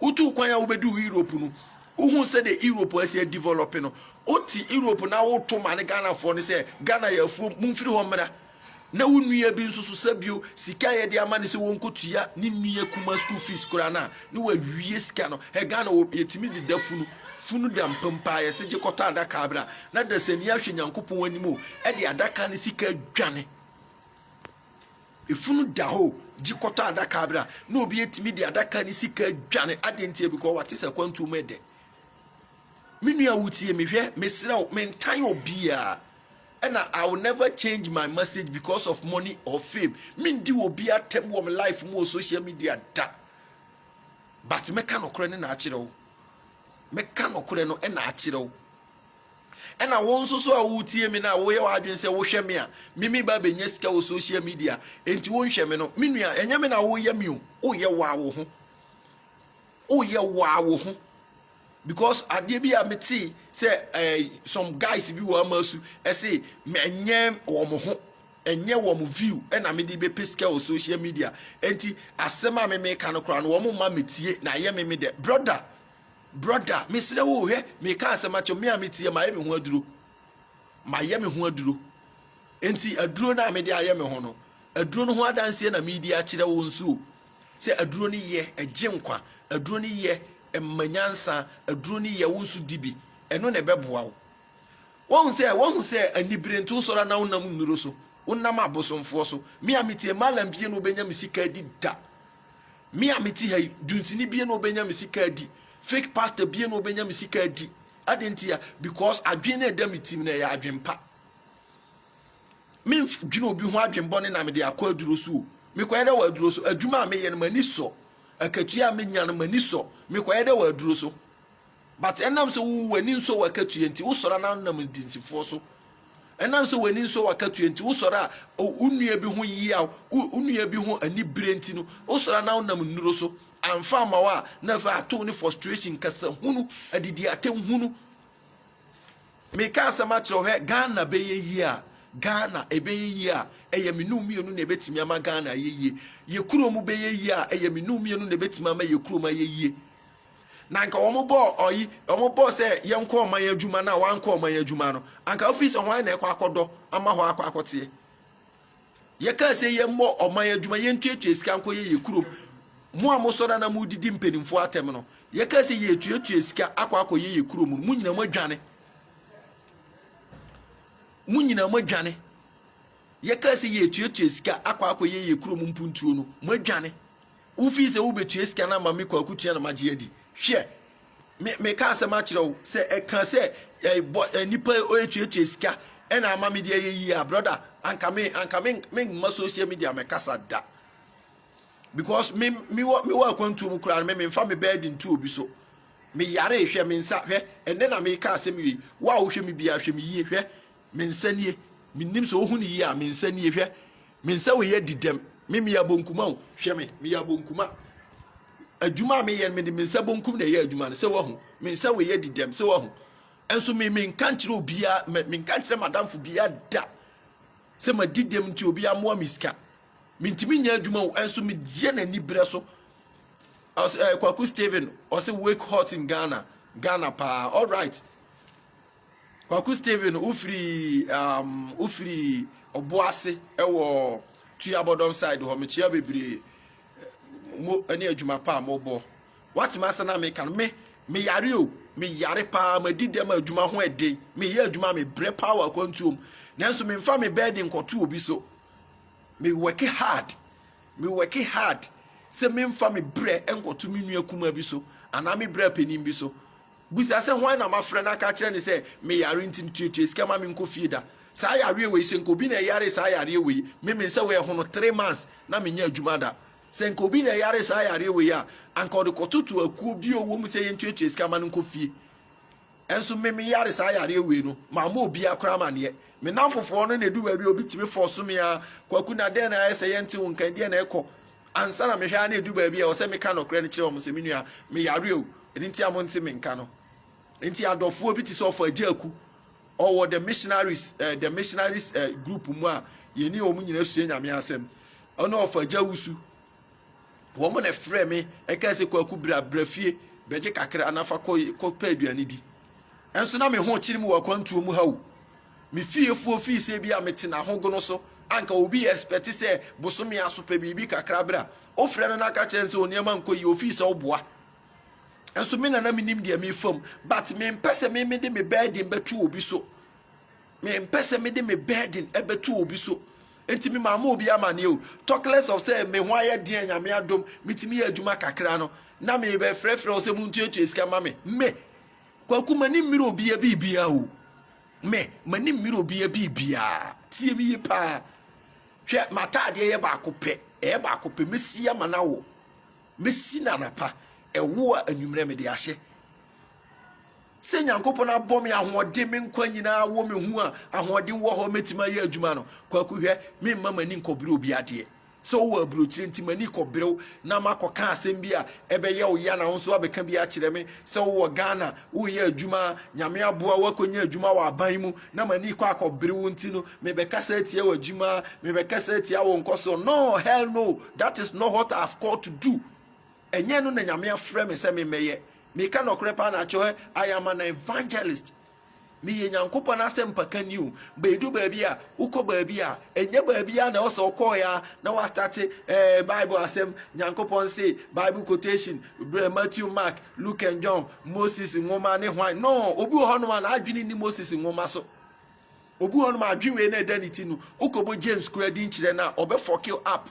Wotu kwan a wobɛdu Europe no wohu sɛdeɛ Europe asi adevelɔpe no wote Europe na woto ma ne Ghanafoɔ no sɛ Ghana yɛ afuom momfiri hɔ mmra. Na wo nua bi nso so sɛ bio sika a yɛde ama no sɛ wɔnkɔ tua ne nua kumaa school fees koraa no a na wawie sika no hɛ Ghana wɔ yɛtumi de da funu funu da mpa mpo a yɛse gye kɔtɔ adaka bra na dasani ahwɛ Nyankopɔn anim o ɛde adaka no sika adwane efunu da hɔ o gye kɔtɔ adaka bra na obi atumi de adaka no sika adwane adeɛ nti ebikɔ wate sɛ kwantuo mu ɛdɛ me nua wotie mehwɛ mesrɛ wo mentan obiara Ɛna I will never change my message because of money or fame. Mendi wɔ bi atɛm wɔ me life mu wɔ social media da. But mɛka nɔkorɛ ne na akyerɛ wo. Mɛka nɔkorɛ no ɛna akyerɛ wo. Ɛna wo nso so a wotie me na woyɛ w'adwene sɛ wohwɛ me a mimi ba bɛnya sika wɔ social media enti wonhwɛ me no me nua ɛnyɛ me na woyɛ me o woyɛ waa wo ho woyɛ waa wo ho Because adeɛ bi a metee sɛ eh, some guys bi wɔ ama su ɛse ɛnyɛ wɔn ho ɛnyɛ wɔn view ɛna mede bɛpɛ sika wɔ social media ɛnti asɛm a meme ka no koraa no wɔn ma metie na ɛyɛ meme dɛ brother brother mesrɛ wo hwɛ meka asɛm akyɛ me a metie mayɛ me ho aduro mayɛ me ho aduro ɛnti aduro no a mede ayɛ me ho no aduro no ho adanseɛ na medi akyerɛ wo nso o Sɛ aduro no yɛ, ɛgye nkwa. Aduro no yɛ, ɛma nyansa. Aduro no yɛ, wo nso di bi. Ɛno na ɛbɛboa wo. Woahu sɛ, woahu sɛ anibere nti wosɔre a na wonam nnuro so, wonam abosomfoɔ so. Me a mete Malam bie na wobɛnya me sika adi da. Me a mete ha yi, Dunsini bie na wobɛnya me sika adi. Fake pastor bie na wobɛnya me sika adi. Adɛn ntia? Because adwene no a ɛda me tirim no, ɛyɛ adwene pa. Mendwene obi ho adwene bɔne na mede akɔ aduro so o. Mekɔyɛ dɛ wɔ aduro so. Adwuma a meyɛ no, m'ani sɔ. Akatua a menya no, m'ani sɔ. Mekɔyɛ dɛ wɔ aduro so. But ɛnam sɛ wo w'ani nsɔ w'akatua nti, wosɔre a na wonam ndansifoɔ so. Ɛnam sɛ w'ani nsɔ w'akatua nti, wosɔre a wo nua bi ho yeaw, wo nua bi ho anibere nti no, wosɔre a na wonam nnuro so. Amfa amma wo a, na afei ato wo ne frustration, nkasahunu, adidiatɛmhunu. meka asɛm akyerɛ hɛ ghana bɛyɛ yie a ghana ɛbɛyɛ yie a ɛyɛ me num mmienu na ɛbɛtumi ama ghana ayɛ yie yɛ kurom bɛyɛ yie a ɛyɛ me num mmienu na ɛbɛtumi ama yɛ kurom ayɛ yie na nka wɔn bɔɔ ɔyi wɔn bɔɔ sɛ yɛnkɔ ɔman adwuma no a wɔankɔ ɔman adwuma no anka ofiri sɛ hwan na ɛkɔ akɔdɔ ama hɔ akɔ akɔteɛ Yɛkaa sɛ yɛmmɔ ɔman adwuma, yɛntuatua sika nkɔ yɛ yɛ kurom. Mo a mosɔre na modidi mpanimfoɔ atɛm no, yɛkaa sɛ yɛtuatua sika akɔ akɔyɛ yɛ kurom no, mo nyinaa moadwane. Mo nyinaa moadwane. Yɛkaa sɛ yɛtuatua sika akɔ akɔyɛ yɛ kurom mpuntuo no, moadwane. Wofii sɛ wobetua sika no ama me kɔ akutia na magye adi. Hwɛ, me, mekaa asɛm akyerɛ wo sɛ ɛka sɛ ɛbɔ eh, eh, nipa eh, oetuatua sika ɛna ama me de ayɛ yie a, brɔda, anka me, anka me, me mma social media mɛkasa da. Because me, me wɔ, me wɔ akwantuo mu koraa no, me memfa me bɛɛdi ntu obi so. Me yare hwɛ me nsa hwɛ, ɛnɛ na meka asɛm yie. Wo a wohwɛ me biara hwɛ me yie hwɛ. Me nsa nie, mennim sɛ wohu no yie a, me nsa nie, hwɛ, me nsa wei adi dɛm, me meyɛ abonkuma o, hwɛ me, meyɛ abonkuma. Adwuma a meyɛ no, mede me nsa bonkum na ɛyɛ adwuma no, sɛ wahu, me nsa wei adi dɛm, sɛ wahu. Nso me menka nkyerɛ obiara, me menka nkyerɛ madamfo biara da sɛ madi dɛm nti obiara mmoa me sika. Mentumi nyɛ adwuma o, nso meyɛ no aniberɛ so. Ɔse, eh, Kwaku Steven, ɔse wake hot in Ghana, Ghana paa, all right. Kwaku Stephen wo firi um, wo firi Ɔboase ɛwɔ Tuabɔdɔm side hɔ mekyia bebree mo ɛne adwuma pa a mobɔ watema ase na meka no me meyare o meyare paa madi dɛm a adwuma ho ɛden meyɛ adwuma mebrɛ paa wɔ akwantuom nanso memfa me bɛɛde nkɔto obi so me work hard me work hard sɛ memfa me brɛ nkɔto me nua kuma bi so anaa me brɛ panin bi so Bisa sɛ, Hwan na mafrɛ na aka akyerɛ no sɛ meyare nti no tuatua sika ma menkɔ fie da? Saa yareɛ wei, sɛ nka obi na ɛyaree saa yareɛ wei, me me nsa wei a ɛho no three months na mennya adwuma da. Sɛ nka obi na ɛyaree saa yareɛ wei a, anka ɔde kɔtoto akuo bi a ɔwɔ mu sɛ yɛntuatua sika ma no nkɔ fie. Nso me meyare saa yareɛ wei no, mammɔ obiara koraa amaneɛ. Me nnamfofoɔ no na ɛdu baabi a wɔbɛtumi fɔɔso me ara. Kwaku, Na dɛn na ayɛ sɛ yɛnte wo nka yi? Deɛn na ɛkɔ? Ansa na mehwɛ ara na ɛdu baabi a ɛwɔ sɛ meka nɔkorɛ no kyerɛ wɔn sɛ, Me nua, meyare o, ɛno nti a monte me nka no. Nti adɔfoɔ bi te sɛ ɔfo Agya Aku, ɔwɔ The Missionaries, eh, The Missionaries eh, group mu a yɛne wɔn nyinaa sua Nyame asɛm, ɔne ɔfo Agya Wusu, wɔn na ɛfrɛ me ɛkaa sɛ, Kwaku, bra, bra fie, bɛgye kakra na fa kɔ, kɔ pɛ aduane di. Ɛnso na me ho kyere mu wɔ akwantuo mu ha o. Me fiefoɔ fii sɛ ebia mete n'ahogono so, anka obi yɛ expect sɛ bosome aso pɛ biribi kakra berɛ a wofrɛ no na aka kyerɛ no sɛ onneɛma nkɔ yie ofii sɛ woboa nso me na na menim deɛ mefa mu but mempɛ sɛ me mede me burden bɛto obi so mempɛ sɛ mede me burden bɛto obi so nti me maama obi amaneɛ o talk less of sɛ me ho ayɛ deɛ nyame adom metumi yɛ adwuma kakra no na mebɛfrɛfrɛ wo sɛ montuatua sika ma me me Kwaku m'ani mmere obia biribiaa o me m'ani mmere obia biribiaa tie me yie paa hwɛ m'ataadeɛ yɛ baako pɛ ɛyɛ baako pɛ mɛsi ama no awo mɛsi no anapa ɛwo a anwummerɛ mede ahyɛ sɛ nyankopɔn abɔ me ahoɔden me nkwa nyinaa wɔ me ho a ahoɔden wɔ hɔ mɛtumi ayɛ adwuma no kwaku hwɛ memma m'ani nkɔbere obi adeɛ Sɛ wowɔ aburokyire nti m'ani kɔbere wo na makɔka asɛm bi a ɛbɛyɛ wo ya na wo nso abɛka bi akyerɛ me. Sɛ wowɔ Ghana, woreyɛ adwuma a Nyame aboa wo akɔnya adwuma wɔ aban mu na m'ani kɔ akɔbere wo nti no, mebɛkasa atia w'adwuma, mebɛkasa atia wo nkɔsoɔ. No, hell no, that is not what I have called to do. Ɛnyɛ ɛno na Nyame afrɛ me sɛ memmɛyɛ. Meka nɔkorɛ paa na akyɛwɛ, I am an evangelist. Meyɛ Nyankopɔn asɛmpakanyi o, beedu beebi a, wokɔ beebi a, nnyɛ beebi ara na ɛwɔ sɛ ɔkɔɔe ara na wɔastate eh, Bible asɛm, Nyankopɔn see, Bible quotation, brɛ Matthew, Mark, Luke and John, Moses nwoma ne hwan. No, obi wɔ hɔnom a n'adwene nni Moses nwoma so. Obi wɔ hɔnom a adwene wei na ɛda ne ti no, wokɔbɔ James kura din kyerɛ no a, ɔbɛfɔke up.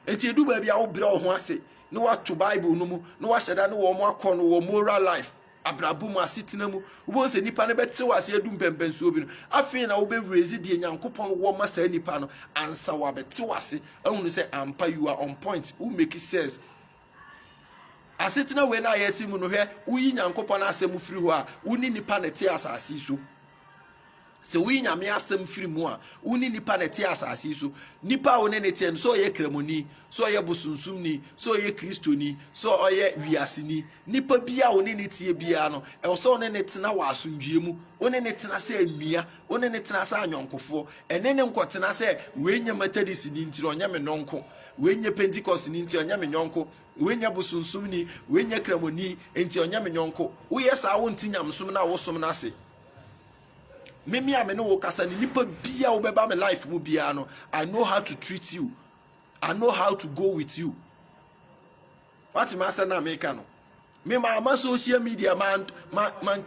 Enti edu baabi a wobrɛ wo ho ase na wato Bible no mu na wahyɛ da ne wɔn akɔ no wɔ moral life. abrabɔ mu, asetena mu, wobɛhu sɛ nipa no bɛte wo ase adu mpɛmpɛnsoɔ bi no, afei na wobɛwurezi deɛ Nyankopɔn wɔ ma saa nipa no, ansa wabɛte wo ase ahunu sɛ ampa you are on point, wo make sense. Asetena wei no a yɛte mu no, hwɛ, woyi Nyankopɔn asɛm firi hɔ a, wo ne nipa na ɛte asase so. Sɛ woyi Nyame asɛm firi mu a, wo ne nipa na ɛte asase yi so. Nipa a wo ne ne teɛ no, sɛ ɔyɛ Kramoni, sɛ ɔyɛ bosonsomni, sɛ ɔyɛ Kristoni, sɛ ɔyɛ wiaseni, nipa bi a wo ne ne teɛ biara no, ɛwɔ sɛ wo ne ne tena wɔ asomdwie mu. Wo ne ne tena sɛ nua, wo ne ne tena sɛ anyɔnkofoɔ. Ɛne ne nkɔtena sɛ, wei nyɛ Methodistni nti na ɔnyɛ me nɔnko, wei nyɛ Pentecost ni nti ɔnyɛ me nyɔnko, Wei nyɛ bosonsomni, wei nyɛ kramoni, enti ɔnyɛ me nyɔnko. Woyɛ saa a, wonte nyamesom no a wosom no ase. Meme a me ne wo kasa no, nipa bi a wobɛba me life mu biara no, I know how to treat you. I know how to go with you. Wate ma asɛ na meka no. Me ma ama social media man man man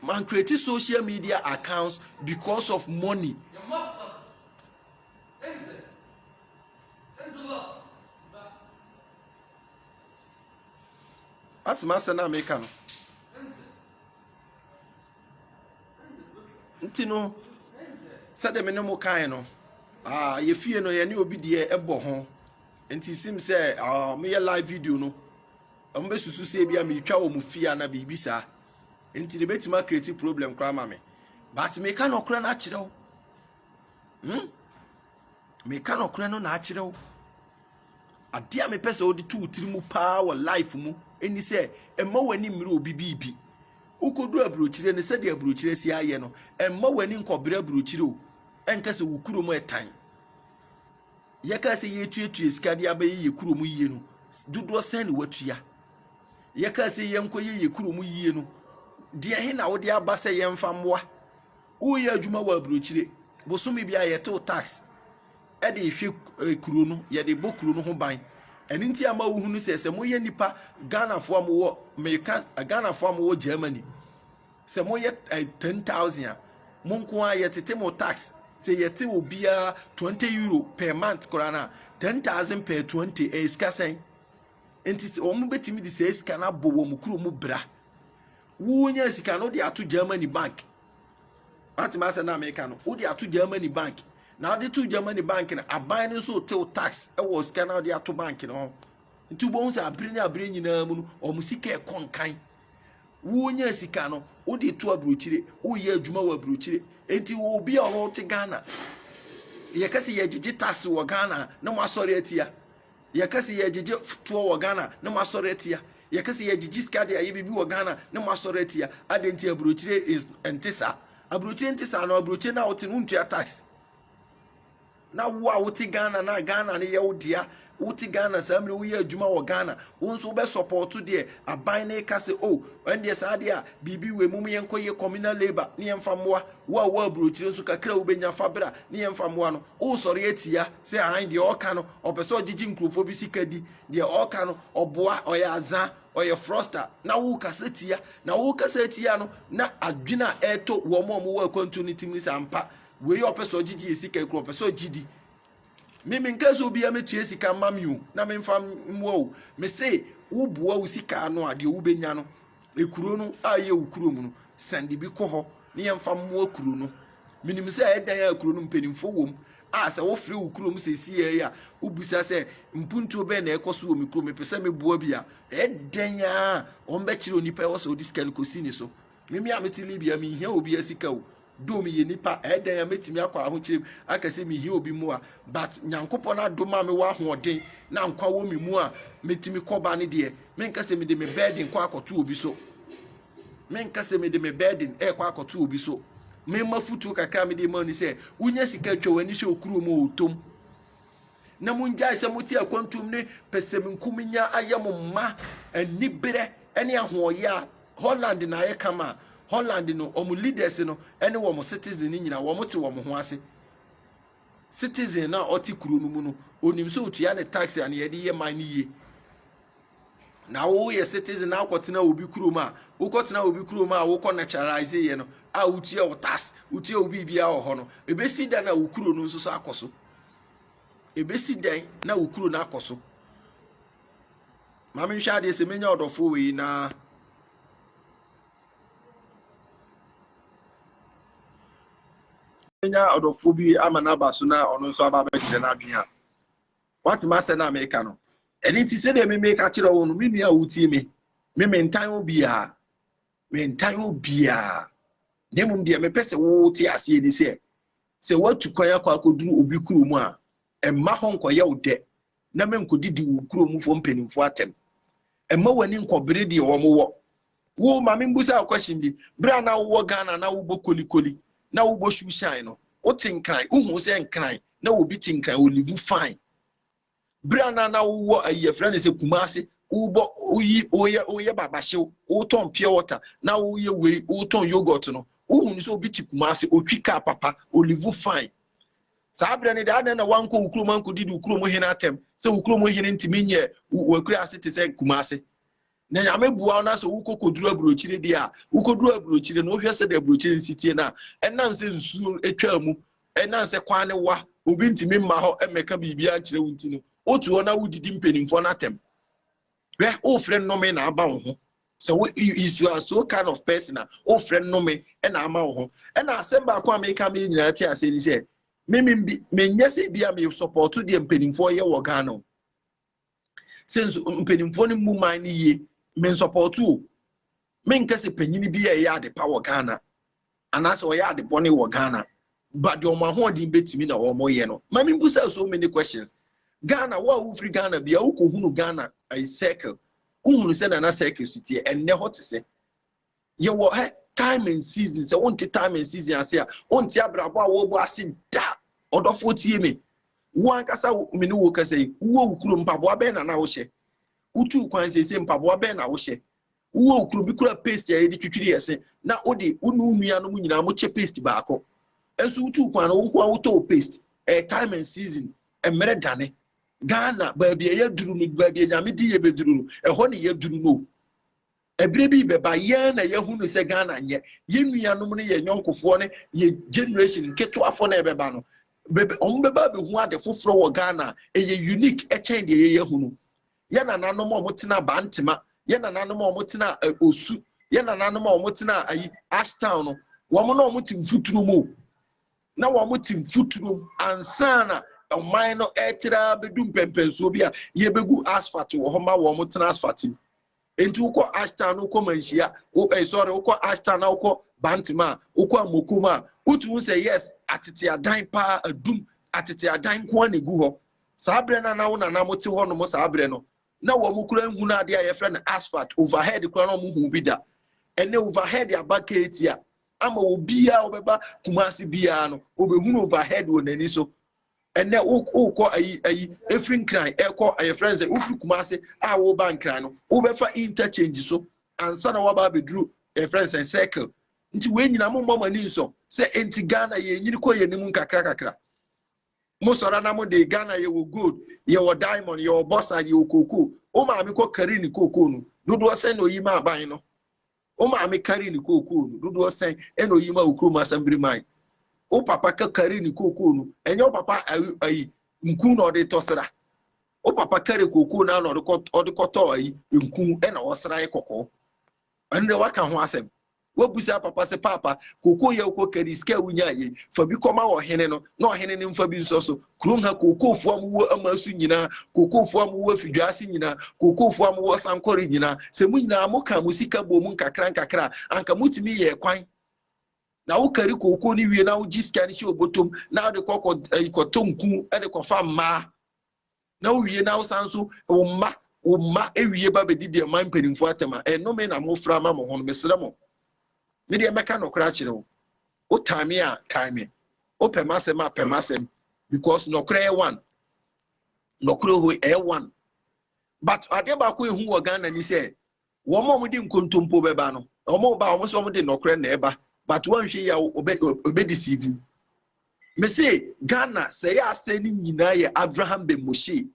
man create social media accounts because of money. Ate m'asɛm no a meka no? Nti no, sɛdeɛ me ne mo kae no, ah, yɛ fie no yɛne obi deɛ ɛbɔ ho. Nti sim sɛ ah, meyɛ live video no, wɔn bɛsusu sɛ ebi a metwa wɔn fie ana biribi saa. Nti de bɛtumi akireti problem koraa ma me. But meka nɔkorɛ no akyerɛ wo. Hmm? Meka nokorɛ no na akyerɛ wo. Adeɛ a mepɛ sɛ wode to wo tiri mu paa wɔ life mu ɛni sɛ ɛmma w'ani mmerɛ obi biribi. Wokɔdu aburokyire no sɛdeɛ aburokyire si ayɛ no, ɛmma w'ani nkɔbrɛ aburokyire o. Ɛnka sɛ wo kuro mu ɛtan. Yɛka sɛ yɛtuatua sika de abɛyɛ yɛ kuro mu yie no, dodoɔ sɛn ne watua? Yɛka sɛ yɛnkɔyɛ yɛ kuro mu yie no, deɛ he na wode aba sɛ yɛmfa mmoa? Woreyɛ adwuma wɔ aburokyire, bosome biara yɛtew tax de hwɛ eh, kuro no, yɛde bɔ kuro no ho ban. Ɛno nti ama wohunu sɛ sɛ moyɛ nipa Ghanafoɔ a mowɔ meka Ghanafoɔ a mowɔ Germany sɛ moyɛ eh, ten thousand a mo nko ara yɛtete mo tax sɛ yɛte obiara twenty euro per month koraa no a ten thousand per twenty ɛyɛ sika sɛn nti sɛ wɔn bɛtumi de saa sika no abɔ wɔn kuro mu bra Wunya sika no de ato Germany bank. Watumi asɛ na Amerika no, wode ato Germany bank. Na wode to Germany bank no, aban no nso tew tax wɔ sika na wode ato bank no ho. Nti wobɛhu sɛ abere ne abere nyinaa mu no, wɔn sika ɛkɔ nkan. Wunya sika no, wode to aburokyire, woyɛ adwuma wɔ aburokyire. Nti wɔ obi a ɔno te Ghana, yɛka sɛ yɛgyegye tax wɔ Ghana na mo asɔre atia. Yɛka sɛ yɛgyegye toɔ wɔ Ghana na moasɔre atia. Yɛka sɛ yɛgyegye sika de ayɛ biribi wɔ Ghana na moasɔre atia. Adɛn nti aburokyire is nte saa? Aburokyire nte saa no aburokyire no a wote no wontua tax. Na wo a wote Ghana na Ghana no yɛ wo dea wote Ghana saa mmerɛ woyɛ adwuma wɔ Ghana wo nso wobɛ sɔpɔɔto deɛ aban no ka sɛ o ɛndeɛ saa deɛ a biribi wɔ mu yɛnkɔyɛ communal labour ne yɛmfa mmoa wo a wɔ aburokyire nso kakra wobɛnya fa bra ne yɛmfa mmoa no Woresɔre atia sɛ ae deɛ ɔreka no ɔpɛ sɛ ɔgyegye nkurɔfoɔ bi sika di, deɛ ɔreka no ɔboa, ɔyɛ adza, ɔyɛ frɔsta na worekasa tia. Na worekasa atia no na adwene a ɛretɔ wɔn a wɔwɔ akwantuo no tim ne sɛ ampa wei ɔpɛ sɛ ɔgyegye yɛ sika yi kora ɔpɛ sɛ ɔgye di. Me menka sɛ obiara mɛtua sika mma me o na memfa mmoa o. Mese woboa wo sika ano a deɛ wobɛnya no ekuro no a ɛyɛ wo kuro mu no sɛnde bi kɔ hɔ ne yɛmfa mmoa kuro no menim sɛ ɛdan a kuro no mpanimfoɔ wɔ mu a sɛ wofrɛ wo kuro mu sɛ ɛsi yɛi a wobisa sɛ mpuntuo bɛn na ɛkɔ so wɔ me kuro mepɛ sɛ meboa bi a ɛdɛn a wɔn bɛkyerɛ onipa ɛwɔ sɛ ɔde sika no kɔsi ne so meme a mete libia menhia obi asika o Though meyɛ nipa, ɛyɛ dɛn a mɛtumi akɔ ahokyerɛ mu aka sɛ mehia obi mmoa, but Nyankopɔn adom a mewɔ ahoɔden na nkwa wɔ me mu a mɛtumi kɔba ne deɛ, menka sɛ mede me burden kɔ akɔto obi so. Menka sɛ mede me burden ɛkɔ akɔto obi so. Mema futuo kakra a mede ma ni sɛ, wonya sika atwa w'ani hwɛ okuro mu ɔtom. Na mongyae sɛ mote akwantuom ne pɛsɛmenkominya ayɛ mo mma aniberɛ ne ahoɔyɛ a Holland na ayɛ kama a, Holland no wɔn leaders no ne wɔn citizen no nyinaa wɔte wɔn ho ase. Citizen no a ɔte kuro no mu no, onim sɛ otua ne tax a nea yɛde yɛ man no yie. Na woyɛ citizen na wokɔtena obi kurom a, wokɔtena obi kurom a wokɔ naturalize yɛ no a wotua wo tax, wotua wo biribiara wɔ hɔ no, ebesi dan a wo kuro no nso so akɔ so. Ebesi dan na wo kuro no akɔ so. ma menhwɛ adeɛ sɛ menya ɔdɔfoɔ wei na menya ɔdɔfoɔ bi ama no aba so na ɔno nso aba bɛkyerɛ no adwene a watema asɛ no a meka no ɛno nti sɛdeɛ me meka kyerɛ wo no me nua a wotie me me mentan obiaa mentan obiaa na mmom deɛ mepɛ sɛ wote aseɛ ni sɛ sɛ woatu kwan akɔ akɔduru obi kurom a Mma hɔ nkɔyɛ wo dɛ, na menkodidi wo nkuro mufoɔ mpaninfoɔ atɛm. Mma w'ani nkɔbere deɛ wɔn wɔ. Wo, ma membusa wo question bi, berɛ a na wowɔ Ghana na wobɔ kolikoli, na wobɔ shoe shine no, wote nkran? Wohuu sɛ nkran, na obi te nkran, o live fine. Berɛ a na na wowɔ ayi yɛfrɛ no sɛ Kumasi, wobɔ, woyi, woyɛ, woyɛ babahyew, wotɔn pure water, na woyɛ wei, wotɔn yogurt no, wohunu sɛ obi te Kumasi, otwi kaa papa, o live fine. Saa berɛ no deɛ, adɛn na woankɔ wo kurom ankɔdidi wo kurom hene atɛm, sɛ wo kurom hene ntumi nyɛ w'akuraase te sɛ Kumasi? Na Nyame boa wo na sɛ wokɔ kɔduru aburokyire deɛ a, wokɔduru aburokyire no, wohwɛ sɛdeɛ aburokyire no si tie no a, ɛnam sɛ nsuo twaa mu, ɛnam sɛ kwan no wa, obi ntumi mma hɔ mmɛka biribiara nkyerɛ wo nti no, woto hɔ na wodidi mpanimfoɔ no atɛm. Hwɛ, wofrɛ nnome na aba wo ho. Sɛ wo if you are so kind of person a, wofrɛ nnome na ama wo ho. Ɛna asɛm baako a meka me nyinaa te ase ni sɛ, mimi bi menyɛ sɛ bi a me support deɛ mpanimfoɔ yɛ wɔ Ghana o. Sɛ nso mpanimfoɔ no mu man no yie, me support o. Menkɛ sɛ panyin bi a ɛyɛ adepa wɔ Ghana anaasɛ ɔyɛ adebɔne wɔ Ghana but deɛ wɔn ahoɔden bɛtumi na wɔyɛ no. Ma membisa so many questions. Ghana, wo a wofiri Ghana bia wokɔhunu Ghana ayi circle, wohunu sɛnea na circle si teɛ, ɛnnɛ hɔ te sɛ? Yɛwɔ hɛ time and season, sɛ wonte time and season ase a, wonte abrabɔ a wɔrebɔ ase da. Ɔdɔfoɔ tie me. Wo ankasa wo- me ne wo kasa yi, wowɔ wo kurom, mpaboa bɛn na na wohyɛ? Wotuu kwan seesei, mpaboa bɛn na wohyɛ? Wowɔ nkuro bi kura paste a yɛde twitwiri yɛn se na wode wo ne wo nuanom nyinaa mokyɛ paste baako. Nso wotuu kwan no wo nko ara wotɔ wo paste. Ɛyɛ time and season. Mmerɛ dane. Ghana, baabi a yɛaduru no, baabi a Nyame de yɛbɛduru no, ɛhɔ na yɛaduru no o. Ɛberɛ bi rebɛba, yɛn na yɛahunu sɛ Ghana nyɛ yɛn nuanom ne yɛn yɔnkofoɔ ne yɛn generation nketewafoɔ no a ɛbɛba no, wɔbɛba abɛhu ade foforɔ wɔ Ghana a ɛyɛ unique kyɛn deɛ yɛyɛ ahunu. yɛn nananom a wɔtena bantema yɛn nananom a wɔtena osu yɛn nananom a wɔtena ayi ashtown no wɔn na wɔte mfuturo mu na wɔte mfuturo mu ansa na ɔman no ɛtera bɛdu mpɛmpɛnsoɔ bi a yɛbɛgu asphalt wɔ hɔ ma wɔn tena asphalt mu nti wokɔ ashtown no wokɔ manhyia wo eh, sorry wokɔ ashtown na wokɔ bantema a wokɔ amokom a wotumi sɛ yes atete adan paa adum atete adan nko a na egu hɔ Saa berɛ no a na wo nana mo te hɔnom saa berɛ no, na wɔn kura nhunu adeɛ a yɛfrɛ no asphalt, overhead kura na wɔn hu bi da. Ɛnɛ overhead aba keetia ama obiara ɔbɛba Kumasi biara no, ɔbɛhunu overhead wɔ n'ani so. Ɛnɛ wokɔ ayi ayi efiri nkran ɛkɔ ayɛfrɛ no sɛ wofiri Kumasi a woba nkran no, wobɛfa interchange so ansa na waba abɛduru ɛfrɛ no sɛ circle. Nti wei nyina mo mmɔ mo ani nsɔ sɛ nti Ghana yɛnyini kɔ yɛn anim nkakra kakra. mo sɔra na mo de Ghana yɛ wɔ gold yɛ wɔ diamond yɛ wɔ bɔsa yɛ wɔ koko o maame kɔ kari ne koko no dodoɔ sɛn na oyi ma aban no o maame kari ne koko no dodoɔ sɛn ɛna oyi ma okurom asɛmbiri man o papa kɛ kari ne koko no ɛnyɛ o papa ayi ayi nku na ɔde tɔ sra o papa kari koko na ɔde kɔ ɔde kɔ tɔ ayi nku ɛna ɔsra yɛ kɔkɔɔ ɛnu de waka ho asɛm Wobisa papa sɛ, Paapa, kookoo yɛ wokɔ kari, sika a wunyae yi, fa bi kɔma ɔhene no, na ɔhene no mfa bi nsɔ so. Kurom ha, kookoofo a mowɔ aman so nyinaa, kookoofo a mowɔ afi dwa ase nyinaa, kookoofo a mowɔ sankɔre nyinaa, sɛ mo nyinaa mokaa mo sika bɔɔ mu nkakrankakra a, anka mutumi yɛɛ kwan na wokari kookoo no wie na wogye sika no hyɛ obotom na wode kɔ kɔtɔ nku de kɔfa mmaa. na wowie na wosan nso wo mma wo mma ewie ba bɛdi deɛ man mpanimfoɔ atɛm a ɛnome na mofra ama mo ho no mesrɛ mo me deɛ mɛka nɔkorɛ akyerɛ wo wotan me a tan me wopɛ m'asɛm a pɛ m'asɛm because nɔkorɛ yɛ one nɔkorɛ hɔ ɛyɛ one but adeɛ baako ehu wɔ ghana ni sɛ Wɔn a wɔde nkontompo bɛba no, wɔn ba wɔn sɛ wɔn de nɔkorɛ na ɛba, but wɔnhwɛ yɛ ɔbɛ ɔbɛ deceive you. Mese Ghana sɛ yɛ asɛn ne nyinaa yɛ Abraham Ben Moshe.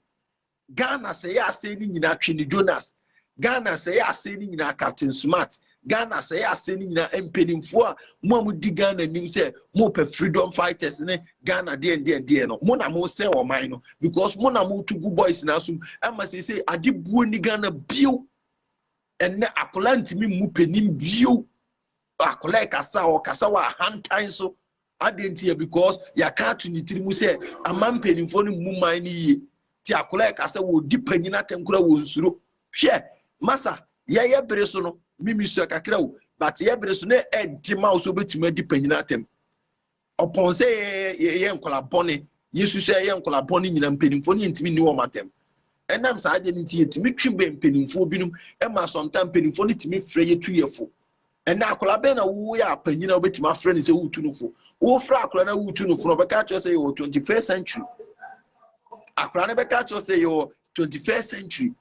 Ghana sɛ yɛ asɛn ne nyinaa Twene Jonas. Ghana sɛ yɛ asɛn ne nyinaa Captain Smart. Ghana sɛ yɛ asɛn ne nyinaa mpanimfoɔ a mo a modi Ghana nim sɛ mopɛ freedom fighters ne Ghana deɛn deɛn deɛn no mo na mo sɛ ɔman no because mo na mo to gu boys na so ɛma sɛ sɛ ade buo ni Ghana bio ɛnɛ akwadaa ntumi mu panin bio akwadaa kasa ɔkasa wɔ ahantan so adeɛ nti yɛ because yɛaka ato ne tiri mu sɛ ama mpanimfoɔ no mu man no yie ti akwadaa kasa wɔ di panyin atɛnkora wɔ nsuro hwɛ masa yɛyɛ bere so no mimi sua kakra o but yɛ bere so na ɛde ma wo sɛ wobɛtumi adi panyin atɛm ɔpɔn sɛ yɛyɛ nkwadaa bɔne yesu sɛ yɛyɛ nkwadaa bɔne nyinaa mpanimfoɔ no yɛntumi nni wɔn atɛm ɛnam saa adeɛ no nti yɛtumi twe bɛn mpanimfoɔ binom ɛma sɔnta mpanimfoɔ no tumi frɛ yɛtu yɛ fo ɛnna akwadaa bɛn na woyɛ apanyin a wobɛtumi afrɛ no sɛ wotu no fo wofrɛ akwadaa na wotu no fo na ɔbɛka akyerɛ sɛ yɛwɔ twenty first century akwadaa no bɛka akyerɛ sɛ yɛwɔ twenty first century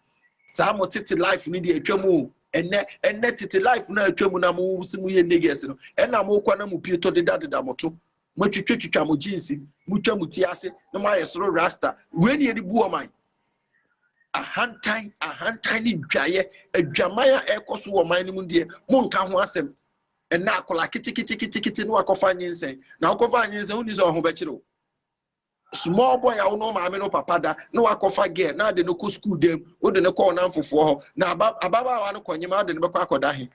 saa mo tete life no deɛ atwa mu o ɛnɛ ɛnɛ tete life no a atwa mu na mo si mo yɛ niggas no ɛna mo kɔ na mo pie tɔ deda deda mo to mo twitwa twitwa mo jeans mo twa mo ti ase na mo ayɛ soro rasta wei ne yɛde bu ɔman ahantan ahantan ne dwaeɛ adwaman a ɛkɔ so wɔ ɔman no mu deɛ mo nka ho asɛm ɛnna akwadaa keteketekete no akɔfa nyinsɛn na akɔfa nyinsɛn wonni sɛ ɔho bɛkyerɛ o Small boy a wo ne wo maame no papa da na wakɔfa girl na ade no kɔ sukuu dam, wode no kɔ wo namfofoɔ hɔ, na aba ababaawa no kɔnyem a wode no bɛkɔ akɔda he?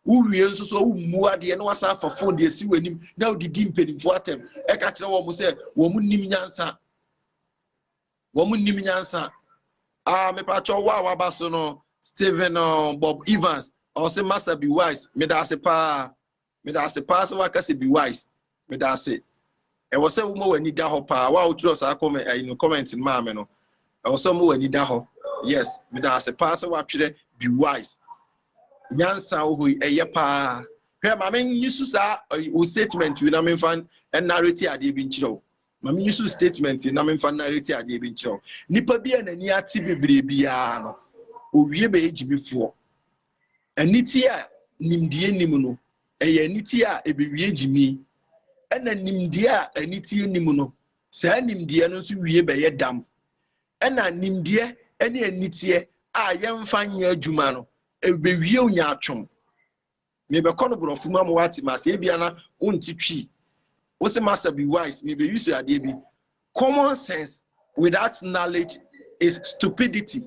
Wowie nso so a wommu adeɛ na wasan afa phone de asi w'anim na wode di mpanimfoɔ atɛm ɛka kyerɛ wɔn sɛ wɔn nnim nyansa. Wɔn nnim nyansa. Ah, mepakyɛ wo a waba so no, Stephen uh, Bob Evans, ɔse Master be wise, meda ase paa. Meda ase paa sɛ woaka sɛ be wise. Meda ase. Ɛwɔ sɛ woma w'ani da hɔ paa. Wo a wotwerɛ saa comment ayi no comment no maa me no, ɛwɔ sɛ woma w'ani da hɔ. Yes, meda ase paa sɛ woatwerɛ be wise. Nyansa wɔ hɔ yi, ɛyɛ paa. Hwɛ, ma me nyi so saa wo statement yi na memfa narrate adeɛ bi nkyerɛ wo. Ma me nyi so statement yi na memfa narrate adeɛ bi nkyerɛ wo. Nipa bi a n'ani ate bebree biara no, owie bɛyɛ gyimifoɔ. Aniteɛ a nimdeɛ nnim no, ɛyɛ aniteɛ a ɛbɛwie gyimii, ɛna nimdeɛ a aniteɛ nnim no, saa nimdeɛ no nso wie bɛyɛ dam. Ɛna nimdeɛ ne aniteɛ a yɛmfa nyɛ adwuma no, ɛbɛwie nyaatwom. Mebɛkɔ no borɔfo mu ama woate ma sɛ ebia na wonte twi. Wo se masa be wise, mebɛyusu adeɛ bi. Common sense without knowledge is stupidity.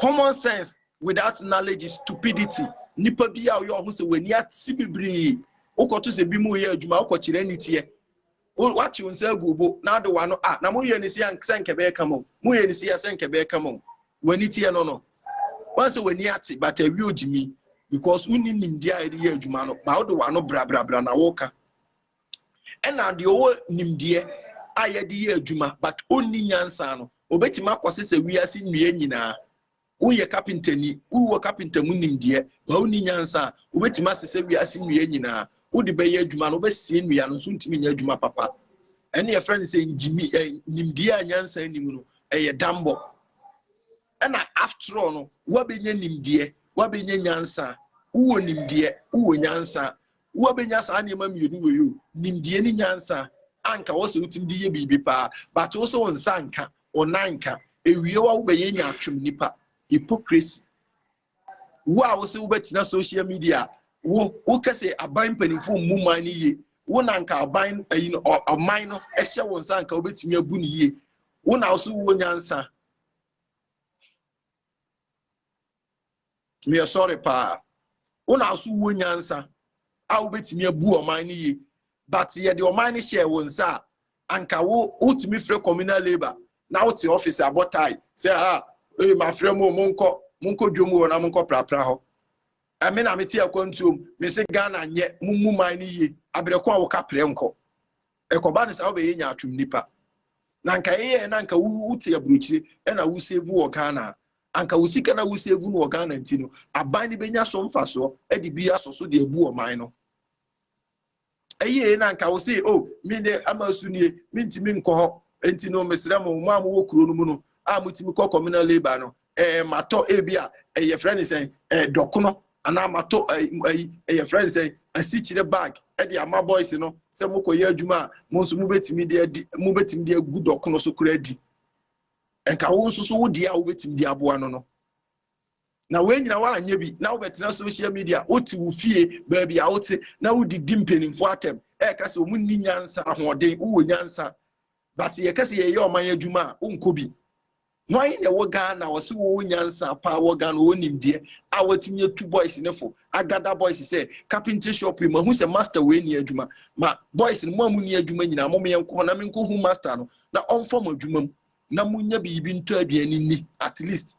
Common sense without knowledge is stupidity. Nipa bi a ɔyɛ ɔho sɛ w'ani ate bebree. Wokɔto sɛ bi mu reyɛ adwuma wokɔkyerɛ ne teɛ. Wakye wo nsa agu bo na ade w'ano a na moyɛ ne sɛ sɛ nkɛ bɛyɛ kama o. Moyɛ ne sɛ sɛ nkɛ bɛyɛ kama o. W'ani teɛ no no. Wɔn sɛ w'ani ate but awie ogyimi because wonni nimdeɛ a yɛde yɛ adwuma no ba wode w'ano brabrabra na woka. ɛna deɛ ɔwɔ nimdeɛ a yɛde yɛ adwuma but ɔnni nyansa no ɔbɛtumi akɔsesɛ wiase nnua nyinaa woyɛ kapentani wowɔ kapenta mu nimdeɛ ba wonni nyansa a wobɛtumi asesɛ wiase nnua nyinaa wode bɛyɛ adwuma no wobɛsie nnua no nso ntumi nyɛ adwuma papa ɛne yɛfrɛ no sɛ ngyimi nimdeɛ a nyansa nnim no ɛyɛ dambɔ ɛna after all no woabɛnya nimdeɛ woabɛnya nyansa wowɔ nimdeɛ wowɔ nyansa Woabɛnya saa nneɛma mmienu wei o, nimdeɛ ne nyansa, anka wɔ sɛ wotumi de yɛ biribi paa, but wo sɛ wo nsa nka, wo nan nka, ewie wa wobɛyɛ nyaatwom nipa, hypocrisy. Wo a wo sɛ wobɛtena social media, wo wo kɛ sɛ aban mpanimfoɔ mmu man no yie, wo na nka aban ayi no ɔman no ɛhyɛ wo nsa nka wobɛtumi abu no yie, wo na wo so wɔ nyansa. Meyɛ sorry paa. Wo na so wɔ nyansa a wobɛtumi abu ɔman no yie but yɛde ɔman no hyɛɛ wo nsa a anka wo wotumi frɛ communal labour na wote office abɔ tae sɛ a ah, ee mafrɛ mu monkɔ monkɔ dwom wɔ na monkɔ prapra hɔ. Ɛme na mete akwantuom mese Ghana nyɛ mo mu man no yie abrɛko a woka prɛ nkɔ. Ɛkɔba no saa wobɛyɛ nyaatwom nipa. Na anka ɛyɛ na anka wote aburokyire ɛna wo save wɔ Ghana a, anka wo sika na wo save no wɔ Ghana nti no, aban no bɛnya so mfasoɔ ɛde bi asɔ so de abu ɔman no. Ɛyɛ na anka wo se o oh, me de ama su nie mentumi nkɔ hɔ nti no mesrɛ mo mo a mowɔ kuro no mu no a motumi kɔ communal labour no eh, matɔ ebi a eh, yɛfrɛ ne sɛn eh, dɔkono anaa matɔ eh, eh, eh, yɛfrɛ ne sɛn asikyire bag eh, de ama boys no sɛ mokɔyɛ adwuma a mo nso mobɛtumi de adi mobɛtumi de agu dɔkono so koraa di nka wo nso so wo deɛ a wobɛtumi de aboa no no na wei nyina woanyɛ bi na wobɛtena social media wote wo fie baabi a wote na wodidi mpanimfoɔ atɛm ɛka sɛ ɔmu nni nyansa ahoɔden wowɔ nyansa but yɛka sɛ yɛyɛ ɔman adwuma a wonkɔ bi Hwan na ɛwɔ Ghana a wɔse wɔwɔ nyansa paa wɔ Ghana, wɔwɔ nimdeɛ a wɔatumi atu boys no fo, agada boys sɛ carpentry shop yi mahu sɛ master wei nni adwuma, ma boys no mo a monni adwuma nyinaa mom yɛnkɔ hɔ na menkɔhu master no na ɔmfa mo adwuma mu na monya biribi ntɔ aduane nni at least.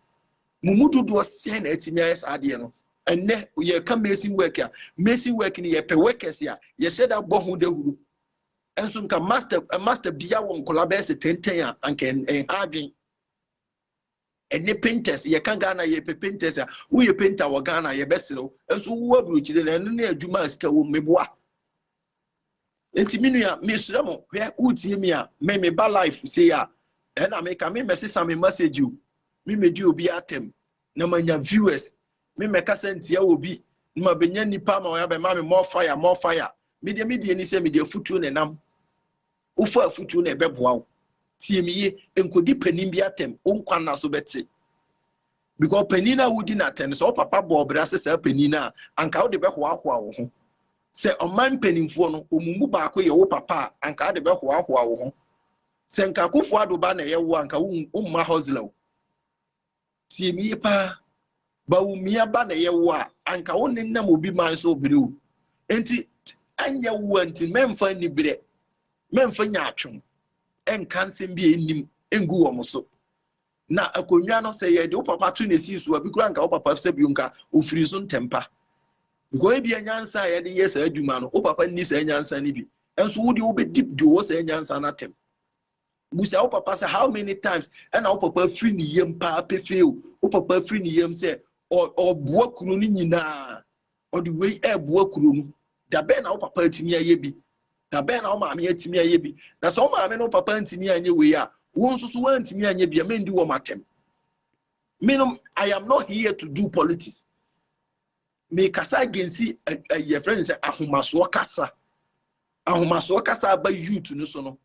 Mo mu dodoɔ sɛn na atumi ayɛ saa adeɛ no? Ɛnnɛ yɛka mason work a, mason work no yɛpɛ workers a yɛhyɛ da bɔ ho dawuro Nso nka master eh, master bia wɔ nkɔla bɛyɛ sɛ tenten a anka ɛnha adwen ɛne painters yɛka ghana yɛpɛ painters a woyɛ painter wɔ ghana yɛbɛserew nso wowɔ aburokyire na ɛno ne adwuma a sika wɔ mmeboa nti me nua mesrɛ mo hwɛ wotie me a me me ba life sei a ɛna meka me mmɛsesa me message o me mmɛdi obi atɛm na manya viewers me mɛkasa ntia wɔ bi na mabɛnya nnipa ama wɔyɛ abɛma me more fire more fire medeɛ medeɛ ani sɛ mede afutuo na ɛnam wofa afutuo na ɛbɛboa wo tie me ye nkɔdi panin bi atɛm wo nkwa nna so bɛte because panin a wodi no atɛm no sɛ wo papa bɔɔ bra sɛ saa panin no a anka wode bɛhoahoa wo ho sɛ ɔman mpanimfoɔ no ɔmu mu baako yɛ wo papa a anka wode bɛhoahoa wo ho sɛ nka akofoɔ adoba na ɛyɛ wo anka womma hosla o Tie me yie paa. Bawumia ba na ɛyɛ wo a, anka wo ne nam obi man so ɔbere o. Nti ɛnyɛ wo a nti mɛmfa nni berɛ, mɛmfa nya atwom, ɛnka nsɛm bi a ɛnnim ngu wɔn so. Na akonnwa no sɛ yɛde wo papa to na ɛsii so a, bi koraa nka wo papa sɛ bio nka ɔfiri so ntɛmpa. Because ebi a nyansa a yɛde yɛ saa adwuma no, wo papa nni saa nyansa no bi. Nso wo deɛ wobɛdi deɛ ɔwɔ saa nyansa no atɛm. Bisa wo papa sɛ how many times ɛna wo papa afiri ne yam paa pefee o. Wo papa afiri ne yam sɛ ɔboa kuro no nyinaa. Ɔde wei ɛreboa kuro no. Da bɛn na wo papa atumi ayɛ bi? Da bɛn na wo maame atumi ayɛ bi? Na sɛ wo maame ne wo papa ntumi anyɛ wei a, wo nso so woantumi anyɛ bi a, mendi wɔn atɛm. Menom, I am not here to do politics. mekasa agensi yɛfrɛ no sɛ ahomasoɔ kasa ahomasoɔ kasa aba youth no so no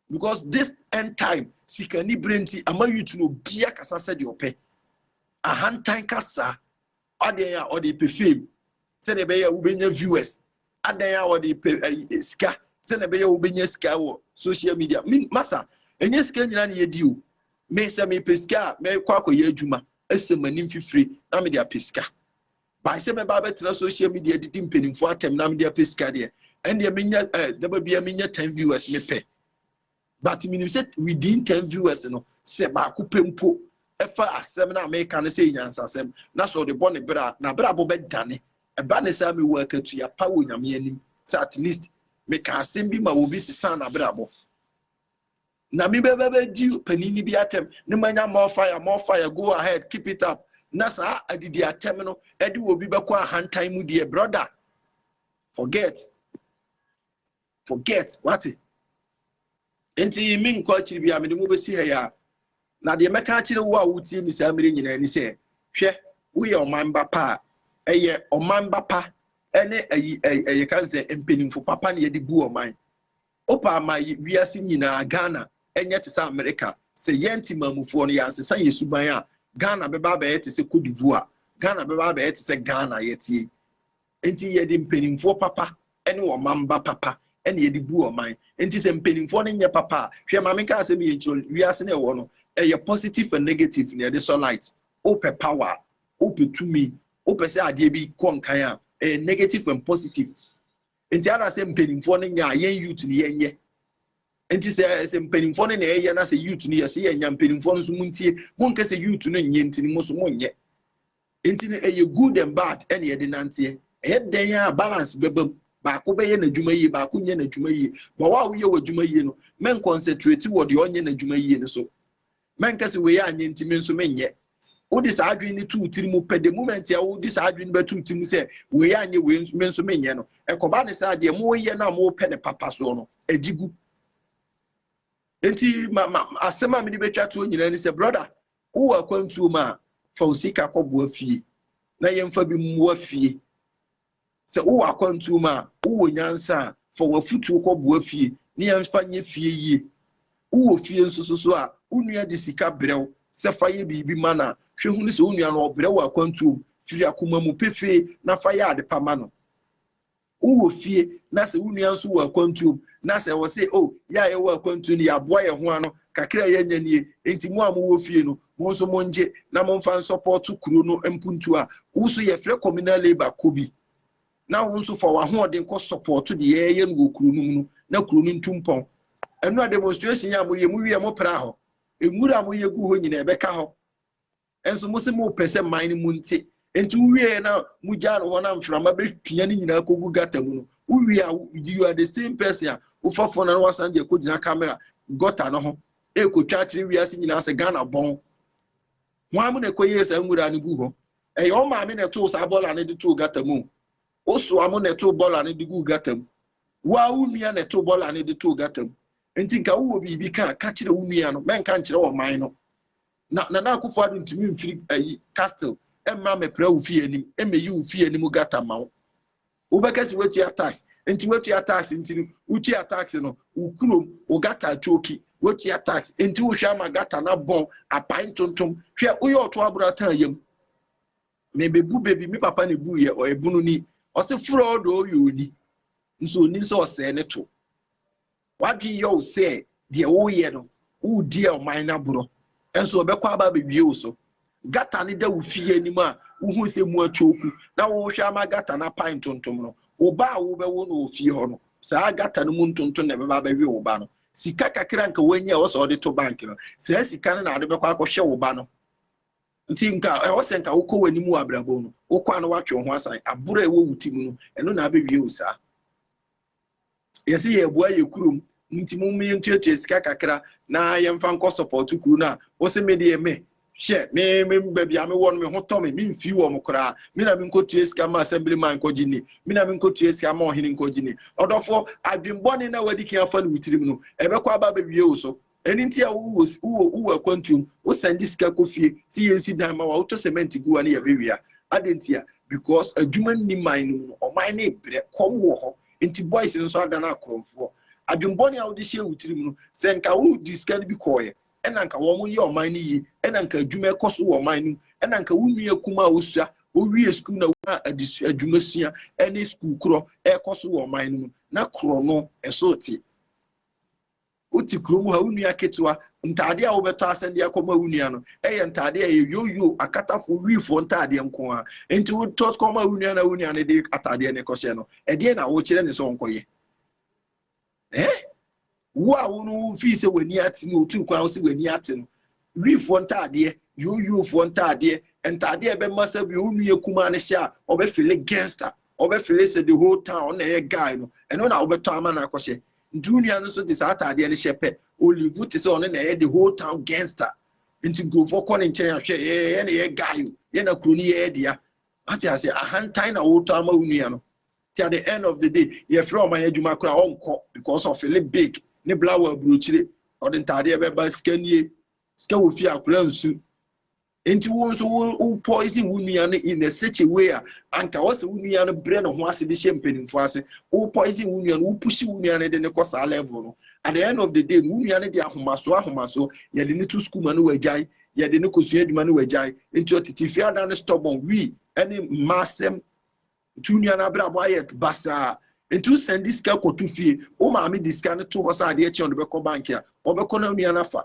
because this end time sikani bere nti ama youth no obia kasa sɛdeɛ ɔpɛ ahantan kasa adeɛ a ɔde pɛ fame sɛdeɛ ɛbɛyɛ wobɛnya viewers adan a ɔde pɛ eh, sika sɛdeɛ ɛbɛyɛ wobɛnya sika wɔ social media masa ɛnyɛ sika nyina ne yɛdi o me sɛ mepɛ sika a mɛkɔ akɔyɛ adwuma ɛsɛ m'anim fifire na mede apɛ sika Bae sɛ mɛba abɛtena social media didi mpanimfoɔ atɛm na mede apɛ sika deɛ, ɛndeɛ menya eh, daba bia menya 10 viewers mepɛ. But menim sɛ within 10 viewers no, sɛ baako pɛ mpo ɛfa asɛm no a meka no sɛ nyansasɛm na sɛ ɔde bɔ ne berɛ a, n'abrabɔ bɛdane. Ɛba ne saa mewɔ akatua pa wɔ Nyame anim sɛ at least meka asɛm bi ma obi sesaa n'abrabɔ. Na me bɛ bɛ bɛ di panin ni bi atɛm ne ma nya more fire more fire go ahead keep it up na saa adidi atɛm no ɛde wɔ bi bɛkɔ ahantan mu deɛ brother forget forget wate nti me nkɔ akyiri bi a mede mo bɛsi ha yɛ a na deɛ mɛka akyerɛ wo a wotie me saa mmerɛ nyinaa ni sɛ hwɛ woyɛ ɔman ba pa a ɛyɛ ɔman ba pa ɛne ɛyi ɛyɛ ka sɛ mpanimfo papa ne yɛde bu ɔman Wopa ama wiase nyinaa Ghana nyɛ te sɛ Amerika. Sɛ yɛn Temanmufoɔ no yɛansesa yɛn suban a, Ghana bɛba abɛyɛ te sɛ Cote d'Ivoire. Ghana bɛba abɛyɛ te sɛ Ghana a yɛte yi. Enti yɛde mpanimfoɔ papa ne ɔmanba papa na yɛde bu ɔman. Enti sɛ mpanimfoɔ no nyɛ papa a, hwɛ ma menka asɛm yei nkyerɛ wo, wiase no a ɛwɔ no, ɛyɛ positive and negative na yɛde sɔ light. Wopɛ power a, wopɛ tumi, wopɛ sɛ adeɛ bi kɔ nkan a, ɛyɛ negative and positive. Nti ana sɛ mpanimfoɔ no nya a yɛn youth no yɛnyɛ? Nti sɛ sɛ mpanimfoɔ no na ɛyɛ na sɛ youth no yɛ so yɛnya mpanimfoɔ no nso montie monkɛ sɛ youth no nyɛ nti no mo so monyɛ. Nti no ɛyɛ good and bad ɛne yɛde nanteɛ. Ɛyɛ dɛn a balance bɛba mu baako bɛyɛ n'adwuma yie baako nyɛ n'adwuma yie. Ma wo a woyɛ w'adwuma yie no mɛnkɔnsɛtreti wɔ deɛ ɔnyɛ n'adwuma yie no so. Mɛnka sɛ wei anyɛ nti me nso menyɛ. Wode saa adwene no to wo tiri mu pɛ, the moment a wode saa adwene no bɛto wo tiri mu sɛ wei anyɛ wei nso me nso menyɛ no, ɛkɔba ne sɛ adeɛ moreyɛ no a morepɛ ne papa soɔ no, agyi gu. Nti ma, ma, asɛm a mede bɛtwa toɔ nyinaa ni sɛ, brɔda, wowɔ akwantuo mu a, fa wo sika kɔboa fie na yɛmfa bi mmoa fie Sɛ wowɔ akwantuo mu a, wowɔ nyansa a, fa w'afutuo kɔboa fie na yɛmfa nyɛ fie yie. Wowɔ fie nso so so a, wo nua de sika brɛ wo sɛ fa yɛ biribi ma no a, hwɛ hunu sɛ wo nua no ɔbrɛ wɔ akwantuo mu. Firi akoma mu pefee na fa yɛ ade pa ma no. Wowɔ fie na sɛ wo nua nso wɔ akwantuo mu na sɛ ɔse, O, yɛ a yɛwɔ akwantuo no, yɛaboa yɛn ho ano, kakra a yɛanya nie, enti mo a mowɔ fie no, Mo nso mo ngye na mo nfa nsɔpɔto kuro no mpuntuo a wo nso yɛ frɛ communal labour kɔ bi na wo nso fa w'ahoɔden kɔ sɔpɔto de yɛɛyɛ no wɔ kuro no mu no na kuro no ntu mpɔn. Ɛno a demonstration a mo yɛ mo wie mo pra hɔ. Nwura a mo yɛ gu hɔ nyina ɛbɛ ka hɔ. Ɛnso mo se mo pɛ sɛ man no mu nte. Ɛnti wo wie na mo gyaa no hɔ na mframa bɛ pia no nyina kɔ gu gutter mu no. Wo wie a you are the same person a wo fa phone na wasan de akɔ gyina camera gutter no ho ɛrekɔtwa akyerɛ wiase nyinaa sɛ Ghana bɔn. Hwan mu na ɛkɔyɛɛ saa nwura no gu hɔ? Ɛyɛ wo maame na ɛtoo saa bɔla no de too gata mu. Wo soa mo na ɛtoo bɔla no de guu gata mu. Wo ara wo nua na ɛtoo bɔla no de too gata mu. Nti nka wowɔ biribi ka a, ka kyerɛ wo nua no, mɛnka nkyerɛ ɔman no. Na Nana Akufo-Addo ntumi mfiri ayi castle mmra mmɛpra wo fie anim mmɛyi wo fie anim gata mma wo. Wobɛka sɛ woatua tax, nti woatua tax nti no wotua tax no wo kurom wo gata atwoki, woatua tax nti wohwɛ ama gata no abɔn apae ntontom, hwɛ woyɛ ɔto aboro atan yam. Mebɛbu bɛ bi, me papa na ɛbuiɛ, ɔyɛ bununi, ɔse frɔɔdɔ ɔyɛ oni, nso ɔnim sɛ ɔsɛe ne to. W'adwene yɛ wo sɛ deɛ woreyɛ no, woredi ɔman no agorɔ, nso wɔbɛkɔ aba abɛwie wo so. Gata no da wo fie anim a, wohu sɛ mu akyooku, na worehwɛ ama gata no apae ntontom no, wo ba a wobɛwo no wɔ fie hɔ no, saa gata no mu ntontom na ɛbɛba abɛwe wo ba no. Sika kakra a anka woanya a ɛwɔ sɛ wode to bank no, saa sika no na wode bɛkɔ akɔhwɛ wo ba no. Nti nka ɛwɔ sɛ nka wokɔ w'anim wɔ abrabɔ mu no, wokɔ a na woatwe wo ho asan. Aboro a ɛwɔ wo ti mu no, ɛno na abɛwie wo saa. Yɛse yɛɛboa yɛ kurom nti mom yɛntuatua sika kakra na yɛmfa nkɔ sɔpɔɔto kuro no a wose me deɛ me hwɛ me me baabi a me wɔ no me ho tɔ me me mfii wɔn koraa me na me nkɔtua sika mma assembly man nkɔgye nni me na me nkɔtua sika mma ɔhene nkɔgye nni ɔdɔfoɔ adwen bɔne no a wadi kan afa no wo tirim no ɛbɛkɔ aba abɛwie wo so Ɛno nti a wowɔ wowɔ wowɔ akwantuom, wosɛnde sika kɔ fie sɛ yɛnsi dan ma wo a, wotɔ cement gu hɔ ne yɛbɛwia. Adɛn nti a? Because adwuma nni man no mu no, ɔman no rebrɛ, kɔm wɔ hɔ, nti boys no nso adane akorɔmfoɔ. Adwembɔne a wode hyɛɛ wo tirim no, sɛ nka wode sika no bi kɔeɛ, ɛna anka wɔyɛ ɔman no yie, ɛna anka adwuma ɛkɔ so wɔ ɔman no mu, ɛna anka wo nua kumaa a ɔsua, ɔwie sukuu na ɔnya adesua, adwumasua ne sukuu korɔ ɛrekɔ so wɔ ɔman no mu, na korɔno, ɛso te. Wote kurom ha, wo nua ketewa, ntaadeɛ a wobɛtɔ asɛn de akɔma wo nua no yɛ ntaadeɛ a ɛyɛ yoyo, akatafoɔ, wiifoɔ ntaadeɛ nko ara. Enti wotɔ kɔma wo nua na wo nua no de ataadeɛ no kɔhyɛ no. Ɛdeɛn na wokyerɛ no sɛ ɔnkɔyɛ? Eh? Wo a wo no wofii sɛ w'ani ate no, wotuu kwan wo sɛ w'ani ate no, Wifoɔ ntaadeɛ, Yooyoofoɔ ntaadeɛ, ntaadeɛ a ɛbɛma sɛ bi a wo nua kumaa no hyɛ a, ɔbɛfeele gangster, ɔbɛfeele sɛ the whole town ɔno na ɛyɛ guy no, ɛno na wobɛtɔ ama no akɔhyɛ. Nti wo nua no nso de saa ataadeɛ no hyɛ pɛ, ɔlivu te sɛ ɔno na ɛyɛ the whole town gangster. Nti nkurɔfoɔ kɔ ne nkyɛn a, hwɛ, yɛ, yɛ na ɛyɛ guy o, yɛ na kuro no yɛ yɛ dea. Wate aseɛ? Ahantan na wotɔ ama wo nua no. nti at the end of the day yɛfrɛ ɔman adwuma koraa ɔnkɔ because ɔfele big ne bla wɔ aburokyire ɔde ntaadeɛ bɛba sika nie sika wɔ fie akora nsu nti wo nso wo wo poison wo nua no in a such a way a anka wɔ sɛ wo nua no brɛ ne ho ase de hyɛ mpanimfoɔ ase wo poison wo nua no wo pushi wo nua no de ne kɔ saa level no at the end of the day wo nua no de ahomaso ahomaso yɛde ne to sukuu ma no wagyae yɛde ne kosua adwuma no wagyae nti ɔtete fie ada ne stubborn wi ne mmaa asɛm Nti wo nua no abrabɔ ayɛ basaa nti wo sɛnde sika kɔto fie, wo maame de sika no to hɔ sɛ adeɛ kye a ɔde bɛkɔ bank a, ɔbɛkɔ na wo nua no afa.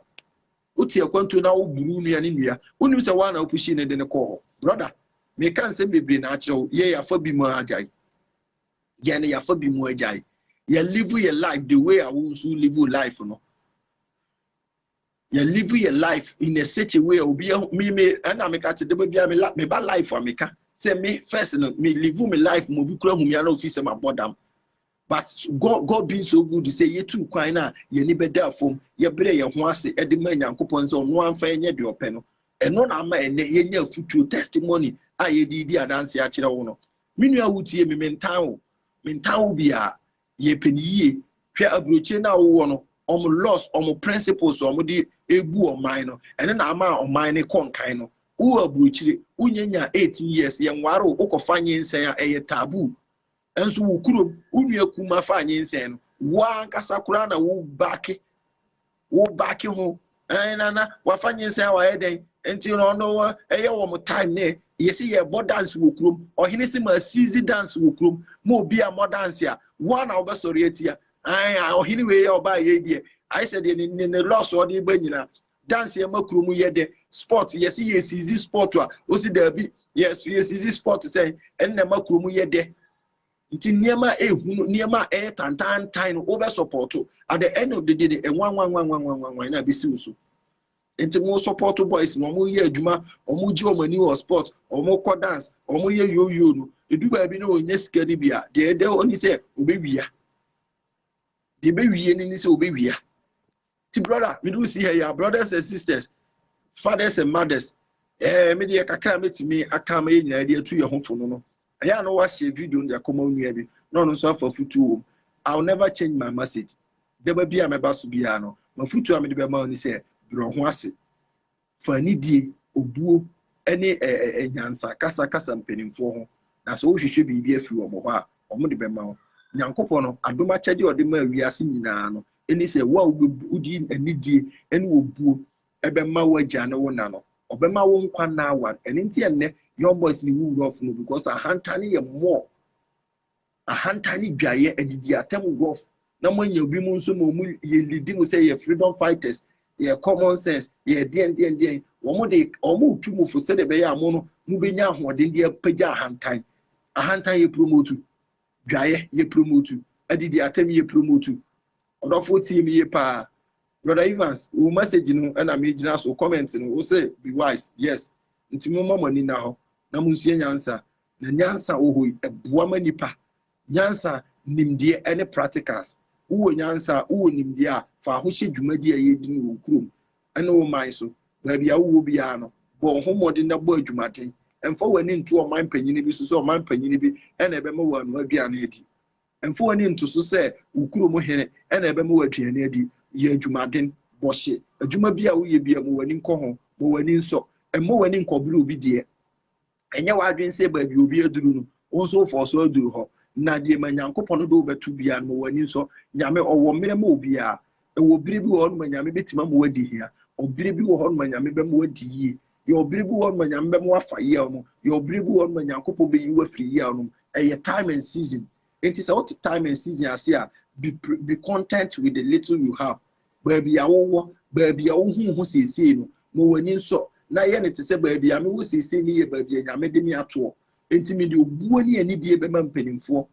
Wote akwantuo na woboro wo nua no nnua, wonim sɛ woa na wopushii no de no kɔɔ hɔ. Brɔda, meka nsɛm bebree na akyerɛ wo, yɛ yɛafa bi mu ara agyae. Yɛn no yɛafa bi mu agyae. Yɛ live yɛ life the way a wo nso wo live wo life no. yɛ live yɛ life in a such a way a obi ahu me me ɛna me ka te de bia me me ba life a me ka sɛ me first no me live me life mo bi kura hu me ana ofi sɛ ma bɔ dam but god god being so good sɛ yɛtu kwan no a yɛni bɛda fam yɛbrɛ yɛn ho ase de ma nyankopɔn sɛ ɔno amfa ɛnyɛ deɛ ɔpɛ no ɛno na ama ɛnɛ yɛnya afutuo testimony a yɛde di adanse akyerɛ wo no me nua wotie me mentan wo mentan wo biara Yɛ pɛ no yie. Hwɛ aburokyire no a wowɔ no, wɔn laws, wɔn principles a wɔde rebu ɔman no, ɛno na ama ɔman no kɔ nkan no. Wowɔ aburokyire, wonyanya 18 years, yɛnware wo, wokɔfa nyinsɛn a, ɛyɛ taboo. Nso wo kurom, wo nua kumaa faa nyinsɛn no, wo ara ankasa koraa na wo baake wo backe ho ɛn na na wafa nyinsɛn a wayɛ dɛn nti no ɔno wɔ ɛyɛ wɔn time ne yɛsi yɛbɔ dance wɔ kurom ɔhene si ma sizi dance wɔ kurom ma obi a mɔ dance a woa na wobɛsɔre atia ɛn a ɔhene wei yɛ ɔbaa yɛ deɛ ayɛ sɛ deɛ ne ne lɔs ɔde ba nyinaa dance yɛ ma kurom yɛ dɛ sport yɛsi yɛ sizi sport a osi daabi yɛ yɛ sizi sport sɛn ɛn na ma kurom yɛ dɛ Nti nneɛma a ɛyɛ hunu, nneɛma a ɛyɛ tantantan no, wobɛsɔpɔɔto. At the end of the day no, ɛnwanwanwanwanwanwanwan na ɛbɛsi wo so. Nti mo sɔpɔɔto boys no, wɔyɛ adwuma, wɔgye wɔn ani wɔ sport, wɔkɔ dance, wɔyɛ yoyo no, ɛdu baabi na wɔnya sika no bi a, deɛ ɛda hɔ ni sɛ wɔbɛwia. Deɛ ɛbɛwie no ni sɛ wɔbɛwia. ti brɔda mede wo si ha yi a brothers and sisters fathers and mothers ɛɛ eh, me deɛ kakra mɛtumi aka ma yɛ nyinaa de atu yɛ ho fo no no ɛyɛ a na wahyɛ video no de akɔma onua bi na ɔno nso afa futuo wɔ mu i will never change my message dɛba bi a mɛba so biara no mafutuo a mede bɛma wo ne sɛ brɛ ho ase Fa anidie, obuo, ne nyansa kasa kasa mpanimfoɔ ho, na sɛ worehwehwɛ biribi afiri wɔn hɔ a, wɔde bɛma wo. Nyankopɔn no, adom akyɛdeɛ a Ɔde maa wiase nyinaa no, ne sɛ, wo a wode anidie ne obuo bɛma w'agya ne wo na no, Ɔbɛma wo nkwa nna awan. Ɛno nti a nnɛ, Young Boys ne wo wura ɔfono, because ahantanne yɛ more Ahantan ne dwaeɛ, adidi atɛm guff na moanya obi mu nso ma wɔn yɛ lidi mu sɛ yɛ freedom fighters, yɛ common sense, yɛ deɛn deɛn deɛn. Wɔn de wɔn retu mo fo sɛdeɛ ɛbɛyɛ a mo no mobɛnya ahoɔden de apagya ahantan. Ahantan yɛ promotu, dwaeɛ yɛ promotu, adidi atɛm yɛ promotu. Ɔdɔfoɔ tie me yie paa. Brother Evans, wo message no na megyina so, comment no, wo se be wise, yes. Nti momma mo ani nna hɔ na monsua nyansa. Na nyansa a wɔwɔ yi, ɛboa ma nnipa. Nyansa, nimdeɛ, ɛne practicals. Wowɔ nyansa a, wowɔ nimdeɛ a, fa ho hyɛ dwumadi a yɛredi no wɔ kurom ne wo man so. Baabi a wowɔ biara no, bɔ wo ho mmɔden na bɔ adwumaden. Mfa w'ani nto ɔman panyin bi so sɛ ɔman panyin bi na ɛbɛma woanoa aduane adi. Mfa w'ani nto so sɛ wo kurom hene na ɛbɛma wo aduane adi. Yɛ adwumaden. Bɔ hye. Adwuma biara a woyɛ biara, ma w'ani nkɔ ho. Ma w'ani nsɔ. Mma w'ani nkɔbere obi deɛ. Ɛnyɛ w'adwene sɛ baabi obi aduru no, wo nso wofɔɔ so aduru hɔ. Na deɛ ma Nyankopɔn de wo bɛto biara no, ma w'ani nsɔ. Nyame, Ɔwɔ mmerɛ ma obiara. Ɛwɔ berɛ bi wɔ hɔ nom a Nyame bɛtumi ama woadi hia. Ɔberɛ bi wɔ hɔ nom a Nyame bɛma woadi yie. Yɛ ɔberɛ bi wɔ hɔ nom a Nyame bɛma woafa yaw mu. Yɛ ɔberɛ bi wɔ hɔ nom a Nyankopɔn bɛyi wo afiri yaw nom. Ɛyɛ time and season. Enti sɛ wote time and season ase a, be be content with the little you have. Baabi a wowɔ, baabi a wohu wo ho seesei no, ma w'ani nsɔ, na yɛ no te sɛ baabi a mewɔ seesei no yɛ baabi a Nyame de me atoɔ. Enti mede obuo ne anidie bɛma mpanimfoɔ,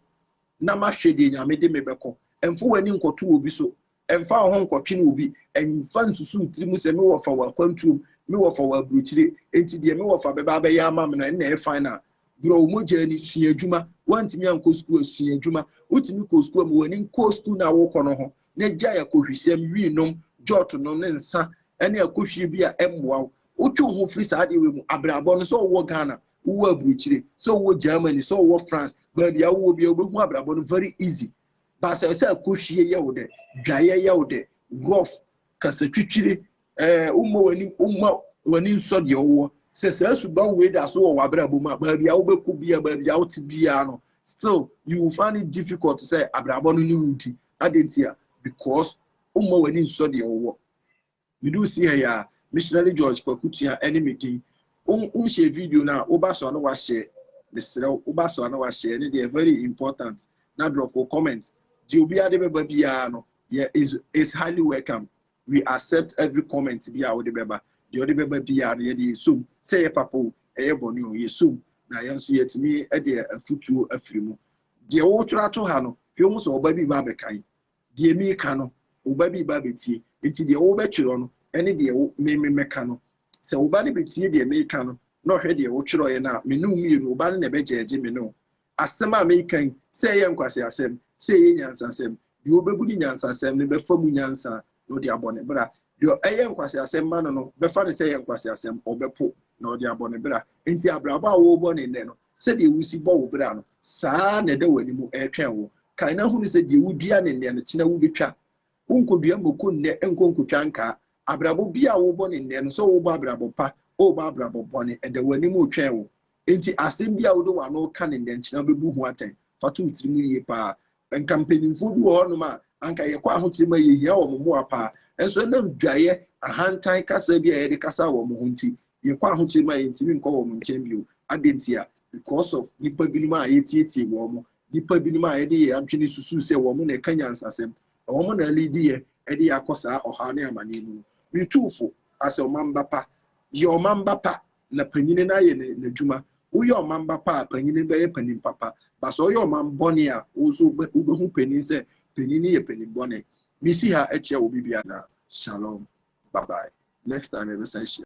na mahwɛ deɛ Nyame de me bɛkɔ. Mfa w'ani nkɔto obi so, mfa wo ho nkɔtwene obi, mfa nsusu wo tiri mu sɛ, mewɔ fa wɔ akwantuo mu, mewɔ fa wɔ aburokyire, enti deɛ mewɔ fa bɛba abɛyɛ ama me no, ɛnna ɛyɛ final. Borɔ wo mogya ani, sua adwuma, woantumi ankɔ sukuu a, sua adwuma, wotumi kɔɔ sukuu a, ma w'ani nkɔ sukuu no a worekɔ no ho, na gyae akohwisɛm, winom, jɔɔto nom ne nsa ne akohwie bi a ɛmmoa wo. Wotwe wo ho firi saa adeɛ wei mu. Abrabɔ no, sɛ wowɔ Ghana, wowɔ aburokyire, sɛ wowɔ Germany, sɛ wowɔ France, baabi a wowɔ biara wobɛhu abrabɔ no very easy. But sɛ sɛ akohwie yɛ wo dɛ, dwaeɛ yɛ wo dɛ, rough, kasa twitwire, ɛɛ wommɔ w'anim, womma w'ani nsɔ deɛ wowɔ. Sɛ saa suban wei da so wɔ w'abrabɔ mu a, baabi a wobɛkɔ biara, baabi a wote biara no, still you will find it difficult sɛ abrabɔ no ne wo di. Adɛn ntia? Because womma w'ani nsɔ deɛ wowɔ. Meduu Seer yi ara, Missionary George Kwaku Tua ne me din. Wo, wonhyɛɛ video no a, woba so a na woahyɛɛ. Mesrɛ wo, woba so a na woahyɛɛ. Ɛno deɛ, very important. Na drop wo comment. Deɛ obiara de bɛba biara no, yɛ, is, is highly welcome. We accept every comment bi a wode bɛba. Deɛ wode bɛba biara no, yɛde yɛsɔ mu. Sɛ ɛyɛ papa o, ɛyɛ bɔne o, yɛsɔ mu. Na yɛn nso, yɛatumi de afotuo afiri mu. Deɛ woretwerɛ ato ha no, hwɛ hu sɛ ɔba bi reba abɛkan. Deɛ mereka no, ɔba bi reba abɛtie. Enti deɛ worebɛtwerɛ no ne deɛ wo, me, memmɛka no. Sɛ wo ba no bɛtie deɛ mereka no na ɔhwɛ deɛ wotwerɛeɛ no a, me ne wo mmienu, wo ba no na ɛbɛgyɛɛgye me ne wo. Asɛm a mereka yi, sɛ ɛyɛ nkwaseasɛm, sɛ ɛyɛ nyansasɛm, deɛ ɔbɛbu no nyansasɛm no bɛfa mu nyansa na ɔde abɔ ne bra. Deɛ ɛyɛ nkwaseasɛm ma no no bɛfa no sɛ ɛyɛ nkwaseasɛm, ɔbɛpo, na ɔde abɔ ne bra. Enti abrabɔ a worebɔ no nnɛ no, sɛdeɛ wosi bɔ wo bra no, saa ara na ɛda w'anim retwɛn wo. Kae na hunu sɛ deɛ wodua no nnɛ no, kyena wobɛtwa. Wonkɔdua mmoko nnɛ nkɔ nkɔtwa nkaa. Abrabɔ biara a worebɔ no nnɛ no, sɛ worebɔ abrabɔ pa o, worebɔ abrabɔ bɔne, ɛda w'anim retwɛn wo. Enti asɛm biara a wode w'ano reka no nnɛ no, kyena wobɛbu ho atɛn. Fa to wo tirim yie pa ara, Anka mpanimfoɔ bi wɔ hɔnom a anka yɛkɔ ahokyere mu a yɛhia wɔn mmoa paa. Nso ɛnam dwaeɛ, ahantan kasa bi a yɛde kasaa wɔn ho nti, yɛkɔ ahokyere mu a yɛntumi nkɔ wɔn nkyɛn bio. Adɛn ntia? Because of nnipa binom a yɛtiatia wɔn, nnipa binom a yɛde yɛn adwene susu sɛ wɔn na ɛka nyansasɛm, na wɔn na alidi yɛn de yɛn akɔ saa ɔhaw ne amaneɛ mu no. Me tuufo, as a ɔmamma pa, yɛ ɔmamma pa na panyini no ayɛ n'adwuma. Woyɛ ɔman ba pa a, panyini no bɛyɛ panin papa. Ba sɛ ɔyɛ ɔman bɔne a, wo nso wobɛhu panin sɛ panin no yɛ panin bɔne. Mesi ha kyia obi bi anaa? Shalom. Bye bye. Next time yɛbɛsan ahyia.